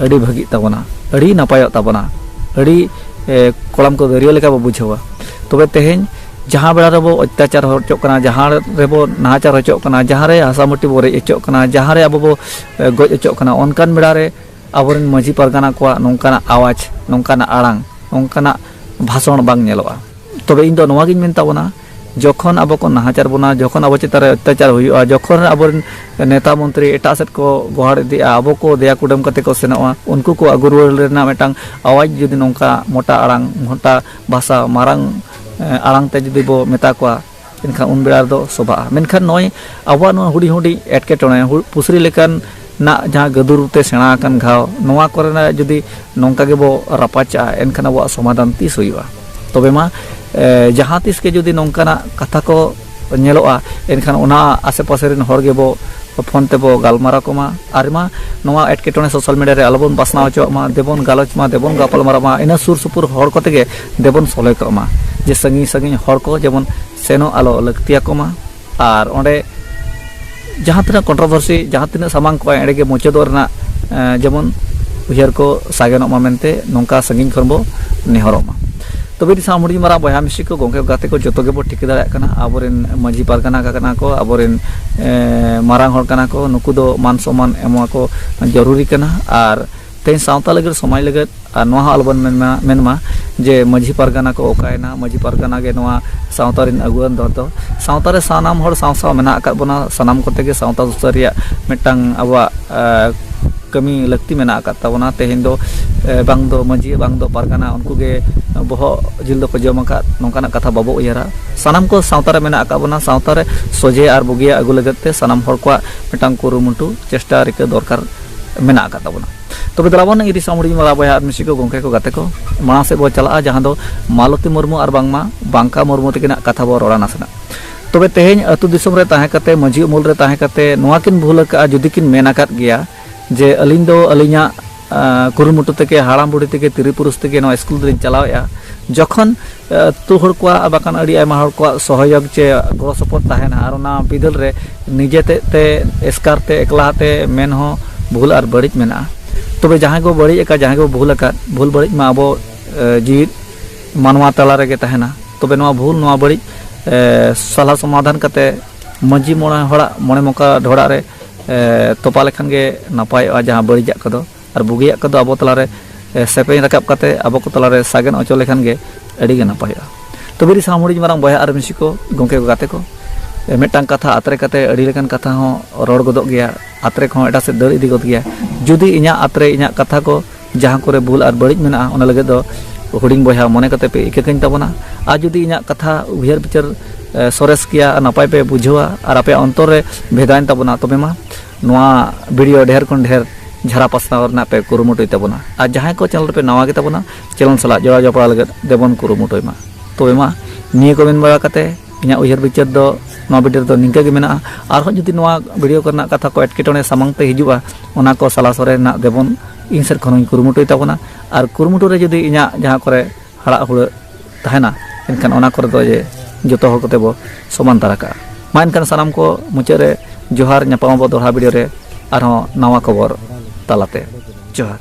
ᱟᱹᱰᱤ ᱵᱷᱟᱹᱜᱤᱜ ᱛᱟᱵᱚᱱᱟ ᱟᱹᱰᱤ ᱱᱟᱯᱟᱭᱚᱜ ᱛᱟᱵᱚᱱᱟ ᱟᱹᱰᱤ ᱠᱚᱲᱟᱢ ᱠᱚ ᱫᱟᱹᱨᱭᱟᱹ ᱞᱮᱠᱟ ᱵᱚ ᱵᱩᱡᱷᱟᱹᱣᱟ ᱛᱚᱵᱮ ᱛᱮᱦᱮᱧ ᱡᱟᱦᱟᱸ ᱵᱮᱲᱟ ᱨᱮᱵᱚ ᱚᱛᱛᱟᱪᱟᱨ ᱦᱚᱪᱚᱜ ᱠᱟᱱᱟ ᱡᱟᱦᱟᱸ ᱨᱮᱵᱚ ᱱᱟᱦᱟᱪᱟᱨ ᱦᱚᱪᱚᱜ ᱠᱟᱱᱟ ᱡᱟᱦᱟᱸ ᱨᱮ ᱦᱟᱥᱟ ᱢᱟᱹᱴᱤ ᱵᱚ ᱨᱮᱡ ᱦᱚᱪᱚᱜ ᱠᱟᱱᱟ ᱡᱟᱦᱟᱸ ᱨᱮ ᱟᱵᱚ ᱵᱚ ᱜᱚᱡ ᱦᱚᱪᱚᱜ ᱠᱟᱱᱟ ᱚᱱᱠᱟᱱ ᱵᱮᱲᱟ ᱨᱮ ᱟᱵᱚᱨᱮᱱ ᱢᱟᱹᱡᱷᱤ ᱯᱟᱨᱜᱟᱱᱟ ᱠᱚᱣᱟᱜ ᱱᱚᱝᱠᱟᱱᱟᱜ ᱟᱣᱟᱡᱽ ᱱᱚᱝᱠᱟᱱᱟᱜ ᱟᱲᱟᱝ ᱱᱚᱝᱠᱟᱱᱟᱜ ᱵᱷᱟᱥᱚᱱ ᱵᱟᱝ ᱧᱮᱞᱚᱜᱼᱟ ᱛᱚᱵᱮ ᱤᱧ ᱫᱚ ᱱᱚᱣᱟ ᱜᱤᱧ ᱢᱮᱱ ᱛᱟᱵᱚᱱᱟ ᱡᱚᱠᱷᱚᱱ ᱟᱵᱚ ᱠᱚ ᱱᱟᱦᱟᱪᱟᱨ ᱵᱚᱱᱟ ᱡᱚᱠᱷᱚᱱ ᱟᱵᱚ ᱪᱮᱛᱟᱱ ᱨᱮ ᱚᱛᱛᱟᱪᱟᱨ ᱦᱩᱭᱩᱜᱼᱟ ᱡᱚᱠᱷᱚᱱ ᱟᱵᱚᱨᱮᱱ ᱱᱮᱛᱟ ᱢᱚᱱᱛᱨᱤ ᱮᱴᱟᱜ ᱥᱮᱫ ᱠᱚ ᱜᱚᱦᱟᱲ ᱤᱫᱤᱜᱼᱟ ᱟᱵᱚ ᱠᱚ ᱫᱮᱭᱟ ᱠᱩᱰᱟᱹᱢ ᱠᱟᱛᱮ ᱠᱚ ᱥᱮᱱᱚᱜᱼᱟ ᱩᱱᱠᱩ ᱠᱚ ᱟᱹᱜᱩ ᱨᱩᱣᱟᱹᱲ ᱨᱮᱱᱟᱜ ᱢᱤᱫᱴᱟᱝ ᱟᱣᱟᱡᱽ ᱡᱩᱫᱤ ᱱᱚᱝᱠᱟ ᱢᱚᱴᱟ ᱟᱲᱟᱝ ᱢᱚᱴᱟ ᱵᱷᱟᱥᱟ ᱢᱟᱨᱟᱝ ᱟᱲᱟᱝ ᱛᱮ ᱡᱩᱫᱤ ᱵᱚ ᱢᱮᱛᱟ ᱠᱚᱣᱟ ᱮᱱᱠᱷᱟᱱ ᱩᱱ ᱵᱮᱲᱟ ᱫᱚ ᱥᱚᱵᱷᱟᱜᱼᱟ ᱢᱮᱱᱠᱷᱟᱱ ᱱᱚᱜᱼᱚᱭ ᱟᱵᱚᱣᱟᱜ ᱱᱚᱣᱟ ᱦᱩᱰᱤᱧ ᱦᱩᱰᱤᱧ ᱮᱴᱠᱮᱴᱚᱬᱮ ᱯᱩᱥᱨᱤ ᱞᱮᱠᱟᱱ ᱱᱟᱜ ᱡᱟᱦᱟᱸ ᱜᱟᱹᱫᱩᱨ ᱛᱮ ᱥᱮᱬᱟ ᱟᱠᱟᱱ ᱜᱷᱟᱣ ᱱᱚᱣᱟ ᱠᱚᱨᱮᱱᱟᱜ ᱡᱩᱫᱤ ᱱᱚᱝᱠᱟ ᱜᱮᱵᱚ ᱨᱟᱯᱟᱪᱟᱜᱼᱟ ᱮᱱᱠᱷᱟᱱ ᱟᱵᱚᱣᱟᱜ ᱥᱚᱢᱟᱫᱷᱟᱱ ᱛᱤᱥ ᱦᱩᱭᱩᱜᱼᱟ ᱛᱚᱵᱮ ᱢᱟ ᱡᱟᱦᱟᱸ ᱛᱤᱥ ᱜᱮ ᱡᱩᱫᱤ ᱱᱚᱝᱠᱟᱱᱟᱜ ᱠᱟᱛᱷᱟ ᱠᱚ ᱧᱮᱞᱚᱜᱼᱟ ᱮᱱᱠᱷᱟᱱ ᱚᱱᱟ ᱟᱥᱮ ᱯᱟᱥᱮ ᱨᱮᱱ ᱦᱚᱲ ᱜᱮᱵᱚ ᱯᱷᱳᱱ ᱛᱮᱵᱚ ᱜᱟᱞᱢᱟᱨᱟᱣ ᱠᱚᱢᱟ ᱟᱨ ᱢᱟ ᱱᱚᱣᱟ ᱮᱴᱠᱮᱴᱚᱬᱮ ᱥᱳᱥᱟᱞ ᱢᱤᱰᱤᱭᱟ ᱨᱮ ᱟᱞᱚᱵᱚᱱ ᱵᱟᱥᱱᱟᱣ ᱦᱚᱪᱚᱣᱟᱜ ᱢᱟ ᱫᱮᱵᱚᱱ ᱜᱟᱞᱚᱪ ᱢᱟ ᱫᱮᱵᱚᱱ ᱜᱟᱯᱟᱞ ᱢᱟᱨᱟᱣ ᱢᱟ ᱤᱱᱟᱹ ᱥᱩᱨ ᱥᱩᱯᱩᱨ ᱦᱚᱲ ᱠᱚᱛᱮ ᱜᱮ ᱫᱮᱵᱚᱱ ᱥᱚᱞᱦᱮ ᱠᱚᱜ ᱢᱟ ᱡᱮ ᱥᱟᱺᱜᱤᱧ ᱥᱟᱺᱜᱤᱧ ᱦᱚᱲ ᱠᱚ ᱡᱮᱢᱚᱱ ᱥᱮᱱᱚᱜ ᱟᱞᱚ ᱞᱟᱹᱠᱛᱤᱭᱟᱠᱚ ᱢᱟ ᱟᱨ ᱚᱸᱰᱮ ᱡᱟᱦᱟᱸ ᱛᱤᱱᱟᱹᱜ ᱠᱚᱱᱴᱨᱚᱵᱷᱟᱨᱥᱤ ᱡᱟᱦᱟᱸ ᱛᱤᱱᱟᱹᱜ ᱥᱟᱢᱟᱝ ᱠᱚᱜᱼᱟ ᱮᱸᱰᱮ ᱜᱮ ᱢᱩᱪᱟᱹᱫᱚᱜ ᱨᱮᱱᱟᱜ ᱡᱮᱢᱚᱱ ᱩᱭᱦᱟᱹᱨ ᱠᱚ ᱥᱟᱜᱮᱱᱚᱜ ᱢᱟ ᱢᱮᱱᱛᱮ ᱱᱚᱝᱠᱟ ᱥᱟᱺᱜᱤᱧ ᱠᱷᱚᱱ ᱵᱚ ᱱᱮᱦᱚᱨᱚᱜ ᱢᱟ ᱛᱚᱵᱮ ᱫᱤᱥᱟᱢ ᱦᱩᱰᱤᱧ ᱢᱟᱨᱟᱝ ᱵᱚᱭᱦᱟ ᱢᱤᱥᱤ ᱠᱚ ᱜᱚᱝᱠᱮ ᱜᱟᱛᱮ ᱠᱚ ᱡᱚᱛᱚ ᱜᱮᱵᱚ ᱴᱷᱤᱠᱟᱹ ᱫᱟᱲᱮᱭᱟᱜ ᱠᱟᱱᱟ ᱟᱵᱚᱨᱮᱱ ᱢᱟᱹᱡᱷᱤ ᱯᱟᱨᱜᱟᱱᱟ ᱠᱟᱱᱟ ᱠᱚ ᱟᱵᱚᱨᱮᱱ ᱢᱟᱨᱟᱝ ᱦᱚᱲ ᱠᱟᱱᱟ ᱠᱚ ᱱᱩᱠᱩ ᱫᱚ ᱢᱟᱱ ᱥᱚᱢᱟᱱ ᱮᱢᱚᱜ ᱠᱚ ᱡᱚᱨᱩᱨᱤ ᱠᱟᱱᱟ ᱟᱨ ᱛᱮᱦᱮᱧ ᱥᱟᱶᱛᱟ ᱞᱟᱹᱜᱤᱫ ᱥᱚᱢᱟᱡᱽ ᱞᱟᱹᱜᱤᱫ ᱟᱨ ᱱᱚᱣᱟ ᱦᱚᱸ ᱟᱞᱚᱵᱚᱱ ᱢᱮᱱᱢᱟ ᱢᱮᱱᱢᱟ ᱡᱮ ᱢᱟᱺᱡᱷᱤ ᱯᱟᱨᱜᱟᱱᱟ ᱠᱚ ᱚᱠᱟᱭᱮᱱᱟ ᱢᱟᱺᱡᱷᱤ ᱯᱟᱨᱜᱟᱱᱟ ᱜᱮ ᱱᱚᱣᱟ ᱥᱟᱶᱛᱟ ᱨᱮᱱ ᱟᱹᱜᱩᱣᱟᱹᱱ ᱫᱚ ᱫᱚ ᱥᱟᱶᱛᱟ ᱨᱮ ᱥᱟᱱᱟᱢ ᱦᱚᱲ ᱥᱟᱶ ᱥᱟᱶ ᱢᱮᱱᱟᱜ ᱟᱠᱟᱫ ᱵᱚᱱᱟ ᱥᱟᱱᱟᱢ ᱠᱚᱛᱮ ᱜᱮ ᱥᱟᱶᱛᱟ ᱥᱩᱥᱟᱹᱨ ᱨᱮᱭᱟᱜ ᱢᱤᱫᱴᱟᱝ ᱟᱵᱚᱣᱟᱜ ᱠᱟᱹᱢᱤ ᱞᱟᱹᱠᱛᱤ ᱢᱮᱱᱟᱜ ᱟᱠᱟᱫ ᱛᱟᱵᱚᱱᱟ ᱛᱮᱦᱮᱧ ᱫᱚ ᱵᱟᱝ ᱫᱚ ᱢᱟᱺᱡᱷᱤ ᱵᱟᱝ ᱫᱚ ᱯᱟᱨᱜᱟᱱᱟ ᱩᱱᱠᱩ ᱜᱮ ᱵᱚᱦᱚᱜ ᱡᱤᱞ ᱫᱚᱠᱚ ᱡᱚᱢ ᱟᱠᱟᱫ ᱱᱚᱝᱠᱟᱱᱟᱜ ᱠᱟᱛᱷᱟ ᱵᱟᱵᱚ ᱩᱭᱦᱟᱹᱨᱟ ᱥᱟᱱᱟᱢ ᱠᱚ ᱥᱟᱶᱛᱟ ᱨᱮ ᱢᱮᱱᱟᱜ ᱟᱠᱟᱫ ᱵᱚᱱᱟ ᱥᱟᱶᱛᱟ ᱨᱮ ᱥᱚᱡᱷᱮ ᱟᱨ ᱵᱩᱜᱤᱭᱟᱜ ᱟᱹᱜᱩ ᱞᱟᱹᱜᱤᱫ ᱛᱮ ᱥᱟᱱᱟᱢ ᱦᱚᱲ ᱠᱚᱣᱟᱜ ᱢᱤᱫᱴᱟᱝ ᱠᱩᱨᱩᱢᱩᱴᱩ ᱪᱮᱥᱴᱟ ᱨᱤᱠᱟᱹ ᱫᱚᱨᱠᱟᱨ ᱢᱮᱱᱟᱜ ᱟᱠᱟᱫ ᱛᱟᱵᱚᱱᱟ ᱛᱚᱵᱮ ᱫᱮᱞᱟ ᱵᱚᱱ ᱤᱨᱤ ᱥᱟᱢᱩᱲᱤ ᱢᱟᱞᱟ ᱵᱚᱭᱦᱟ ᱟᱨ ᱢᱤᱥᱤ ᱠᱚ ᱜᱚᱝᱠᱮ ᱠᱚ ᱜᱟᱛᱮ ᱠᱚ ᱢᱟᱲᱟᱝ ᱥᱮᱫ ᱵᱚ ᱪᱟᱞᱟᱜᱼᱟ ᱡᱟᱦᱟᱸ ᱫᱚ ᱢᱟᱞᱚᱛᱤ ᱢᱩᱨᱢᱩ ᱟᱨ ᱵᱟᱝᱢᱟ ᱵᱟᱝᱠᱟ ᱢᱩᱨᱢᱩ ᱛᱟᱹᱠᱤᱱᱟᱜ ᱠᱟᱛᱷᱟ ᱵᱚ ᱨᱚᱲᱟ ᱱᱟᱥᱮᱱᱟᱜ ᱛᱚᱵᱮ ᱛᱮᱦᱮᱧ ᱟᱹᱛᱩ ᱫᱤᱥᱚᱢ ᱨᱮ ᱛᱟᱦᱮᱸ ᱠᱟᱛᱮ ᱢᱟᱹᱡᱷᱤ ᱩᱢᱩᱞ ᱨᱮ ᱛᱟᱦᱮᱸ ᱠᱟᱛᱮ ᱱᱚᱣᱟ ᱠᱤᱱ ᱵᱷᱩᱞ ᱟᱠᱟᱫᱼᱟ ᱡᱩᱫᱤ ᱠᱤᱱ ᱢᱮᱱ ᱟᱠᱟᱫ ᱜᱮᱭᱟ ᱡᱮ ᱟᱹᱞᱤᱧ ᱫᱚ ᱟᱹᱞᱤᱧᱟᱜ ᱠᱩᱨᱩᱢᱩᱴᱩ ᱛᱮᱜᱮ ᱦᱟᱲᱟᱢ ᱵᱩᱲᱦᱤ ᱛᱮᱜᱮ ᱛᱤᱨᱤ ᱯᱩᱨᱩᱥ ᱛᱮᱜᱮ ᱱᱚᱣᱟ ᱥᱠᱩᱞ ᱫᱚᱞᱤᱧ ᱪᱟᱞᱟᱣᱮᱫᱼᱟ ᱡᱚᱠᱷᱚᱱ ᱟᱹᱛᱩ ᱦᱚᱲ ᱠᱚᱣᱟᱜ ᱵᱟᱠᱷᱟᱱ ᱟᱹᱰᱤ ᱟᱭᱢᱟ ᱦᱚᱲ ᱠᱚᱣᱟᱜ ᱥᱚᱦᱚᱭᱳᱜᱽ ᱪᱮ ᱜᱚᱲᱚ ᱥᱚᱯᱚᱦᱚᱫ ᱛᱟᱦᱮᱱᱟ ᱟᱨ ᱚᱱᱟ ᱵᱤᱫᱟᱹᱞ ᱨᱮ ᱱᱤᱡᱮ ᱛᱮᱫ ᱛᱮ ᱮᱥᱠᱟᱨ ᱛᱮ ᱮᱠᱞᱟ ᱛᱮ ᱢᱮᱱ ᱦᱚᱸ ᱵᱷᱩᱞ ᱟᱨ ᱵᱟᱹᱲᱤᱡ ᱢᱮᱱᱟᱜᱼᱟ ᱛᱚᱵᱮ ᱡᱟᱦᱟᱸᱭ ᱠᱚ ᱵᱟᱹᱲᱤᱡ ᱟᱠᱟᱫ ᱡᱟᱦᱟᱸᱭ ᱠᱚ ᱵᱷᱩᱞ ᱟᱠᱟᱫ ᱵᱷᱩᱞ ᱵᱟᱹᱲᱤᱡ ᱢᱟ ᱟᱵᱚ ᱡᱤᱣᱤᱫ ᱢᱟᱱᱣᱟ ᱛᱟᱞᱟ ᱨᱮᱜᱮ ᱛᱟᱦᱮᱱᱟ ᱛᱚᱵᱮ ᱱᱚᱣᱟ ᱵᱷᱩᱞ ᱱᱚᱣᱟ ᱵᱟᱹᱲᱤᱡ ᱥᱟᱞᱟ ᱥᱚᱢᱟᱫᱷᱟᱱ ᱠᱟᱛᱮ ᱢᱟᱺᱡᱷᱤ ᱢᱚᱬᱮ ᱦᱚᱲᱟᱜ ᱢᱚᱬᱮ ᱢᱚᱠᱟ ᱰᱷᱚᱲᱟᱜ ᱨᱮ ᱛᱚᱯᱟ ᱞᱮᱠᱷᱟᱱ ᱜᱮ ᱱᱟᱯᱟᱭᱚᱜᱼᱟ ᱡᱟᱦᱟᱸ ᱵᱟᱹᱲᱤᱡᱟᱜ ᱠᱚᱫᱚ ᱟᱨ ᱵᱩᱜᱤᱭᱟᱜ ᱠᱚᱫᱚ ᱟᱵᱚ ᱛᱟᱞᱟᱨᱮ ᱥᱮᱯᱮᱧ ᱨᱟᱠᱟᱵ ᱠᱟᱛᱮ ᱟᱵᱚ ᱠᱚ ᱛᱟᱞᱟᱨᱮ ᱥᱟᱜᱮᱱ ᱚᱪᱚ ᱞᱮᱠᱷᱟᱱ ᱜᱮ ᱟᱹᱰᱤ ᱜᱮ ᱱᱟᱯᱟᱭᱚᱜᱼᱟ ᱛᱚᱵᱮ ᱨᱤ ᱥᱟᱱᱟᱢ ᱦᱩᱰᱤᱧ ᱢᱟᱨᱟᱝ ᱵᱚᱭᱦᱟ ᱟᱨ ᱢᱤᱥᱤ ᱠᱚ ᱜᱚᱢᱠᱮ ᱠᱚ ᱜᱟᱛᱮ ᱠᱚ ᱢᱤᱫᱴᱟᱝ ᱠᱟᱛᱷᱟ ᱟᱛᱨᱮ ᱠᱟᱛᱮ ᱟᱹᱰᱤ ᱞᱮᱠᱟᱱ ᱠᱟᱛᱷᱟ ᱦᱚᱸ ᱨᱚᱲ ᱜᱚᱫᱚᱜ ᱜᱮᱭᱟ ᱟᱛᱨᱮ ᱠᱚᱦᱚᱸ ᱮᱴᱟᱜ ᱥᱮᱫ ᱫᱟᱹᱲ ᱤᱫᱤ ᱜᱚᱫ ᱜᱮᱭᱟ ᱡᱩᱫᱤ ᱤᱧᱟᱹᱜ ᱟᱛᱨᱮ ᱤᱧᱟᱹᱜ ᱠᱟᱛᱷᱟ ᱠᱚ ᱡᱟᱦᱟᱸ ᱠᱚᱨᱮ ᱵᱷᱩᱞ ᱟᱨ ᱵᱟᱹᱲᱤᱡ ᱢᱮᱱᱟᱜᱼᱟ ᱚᱱᱟ ᱞᱟᱹᱜᱤᱫ ᱫᱚ ᱦᱩᱰᱤᱧ ᱵᱚᱭᱦᱟ ᱢᱚᱱᱮ ᱠᱟᱛᱮ ᱯᱮ ᱤᱠᱟᱹ ᱠᱟᱹᱧ ᱛᱟᱵᱚᱱᱟ ᱟᱨ ᱡᱩᱫᱤ ᱤᱧᱟᱹᱜ ᱠᱟᱛᱷᱟ ᱩᱭᱦᱟᱹᱨ ᱵᱤᱪᱟᱹᱨ ᱥᱚᱨᱮᱥ ᱜᱮᱭᱟ ᱱᱟᱯᱟᱭ ᱯᱮ ᱵᱩᱡᱷᱟᱹᱣᱟ ᱟᱨ ᱟᱯᱮᱭᱟᱜ ᱚᱱᱛᱚᱨ ᱨᱮ ᱵᱷᱮᱫᱟᱭᱮᱱ ᱛᱟᱵᱚᱱᱟ ᱛᱚᱵᱮ ᱢᱟ ᱱᱚᱣᱟ ᱵᱷᱤᱰᱤᱭᱳ ᱰᱷᱮᱨ ᱠᱷᱚᱱ ᱰᱷᱮᱨ ᱡᱷᱟᱨᱟ ᱯᱟᱥᱱᱟᱣ ᱨᱮᱱᱟᱜ ᱯᱮ ᱠᱩᱨᱩᱢᱩᱴᱩᱭ ᱛᱟᱵᱚᱱᱟ ᱟᱨ ᱡᱟᱦᱟᱸᱭ ᱠᱚ ᱪᱮᱱᱮᱞ ᱨᱮᱯᱮ ᱱᱟᱣᱟ ᱜᱮ ᱛᱟᱵᱚᱱᱟ ᱪᱮᱱᱮᱞ ᱥᱟᱞᱟᱜ ᱡᱚᱲᱟᱣ ᱡᱚᱯᱲᱟᱣ ᱞᱟᱹᱜᱤᱫ ᱫᱮᱵᱚᱱ ᱠᱩᱨᱩᱢᱩᱴᱩᱭ ᱢᱟ ᱛᱚᱵᱮ ᱢᱟ ᱱᱤᱭᱟᱹ ᱠᱚ ᱢᱮᱱ ᱵᱟᱲᱟ ᱠᱟᱛᱮ ᱤᱧᱟᱹᱜ ᱩᱭᱦᱟᱹᱨ ᱵᱤᱪᱟᱹᱨ ᱫᱚ ᱱᱚᱣᱟ ᱵᱷᱤᱰᱤᱭᱳ ᱨᱮᱫᱚ ᱱᱤᱝᱠᱟᱹ ᱜᱮ ᱢᱮᱱᱟᱜᱼᱟ ᱟᱨᱦᱚᱸ ᱡᱩᱫᱤ ᱱᱚᱣᱟ ᱵᱷᱤᱰᱤᱭᱳ ᱠᱚᱨᱮᱱᱟᱜ ᱠᱟᱛᱷᱟ ᱠᱚ ᱮᱴᱠᱮᱴᱚᱬᱮ ᱥᱟᱢᱟᱝ ᱛᱮ ᱦᱤᱡᱩᱜᱼᱟ ᱚᱱᱟ ᱠᱚ ᱥᱟᱞᱟ ᱥᱚᱨᱮ ᱨᱮᱱᱟᱜ ᱫᱮᱵᱚᱱ ᱤᱧ ᱥᱮᱫ ᱠᱷᱚᱱ ᱦᱚᱸᱧ ᱠᱩᱨᱩᱢᱩᱴᱩᱭ ᱛᱟᱵᱚᱱᱟ ᱟᱨ ᱠᱩᱨᱩᱢᱩᱴᱩ ᱨᱮ ᱡᱩᱫᱤ ᱤᱧᱟᱹᱜ ᱡᱟᱦᱟᱸ ᱠᱚᱨᱮ ᱦᱟᱲᱟᱜ ᱦᱩᱲᱟᱹᱜ ᱛᱟᱦᱮᱱᱟ ᱮᱱᱠᱷᱟᱱ ᱚᱱᱟ ᱠᱚᱨᱮ ᱫᱚ ᱡᱮ ᱡᱚᱛᱚ ᱦᱚᱲ ᱠᱚᱛᱮ ᱵᱚ ᱥᱚᱢᱟᱱ ᱫᱟᱨᱟ ᱠᱟᱜᱼᱟ ᱢᱟ ᱮᱱᱠᱷᱟᱱ ᱥᱟᱱᱟᱢ ᱠᱚ ᱢᱩᱪᱟᱹᱫ ᱨᱮ ᱡᱚᱦᱟᱨ ᱧᱟᱯᱟᱢ ᱟᱵᱚ ᱫᱚᱲᱦᱟ ᱵᱷᱤᱰᱤᱭᱳ ᱨᱮ ᱟᱨᱦᱚᱸ ᱱᱟᱣᱟ ᱠᱷᱚᱵᱚᱨ ᱛᱟᱞᱟᱛᱮ ᱡᱚᱦᱟᱨ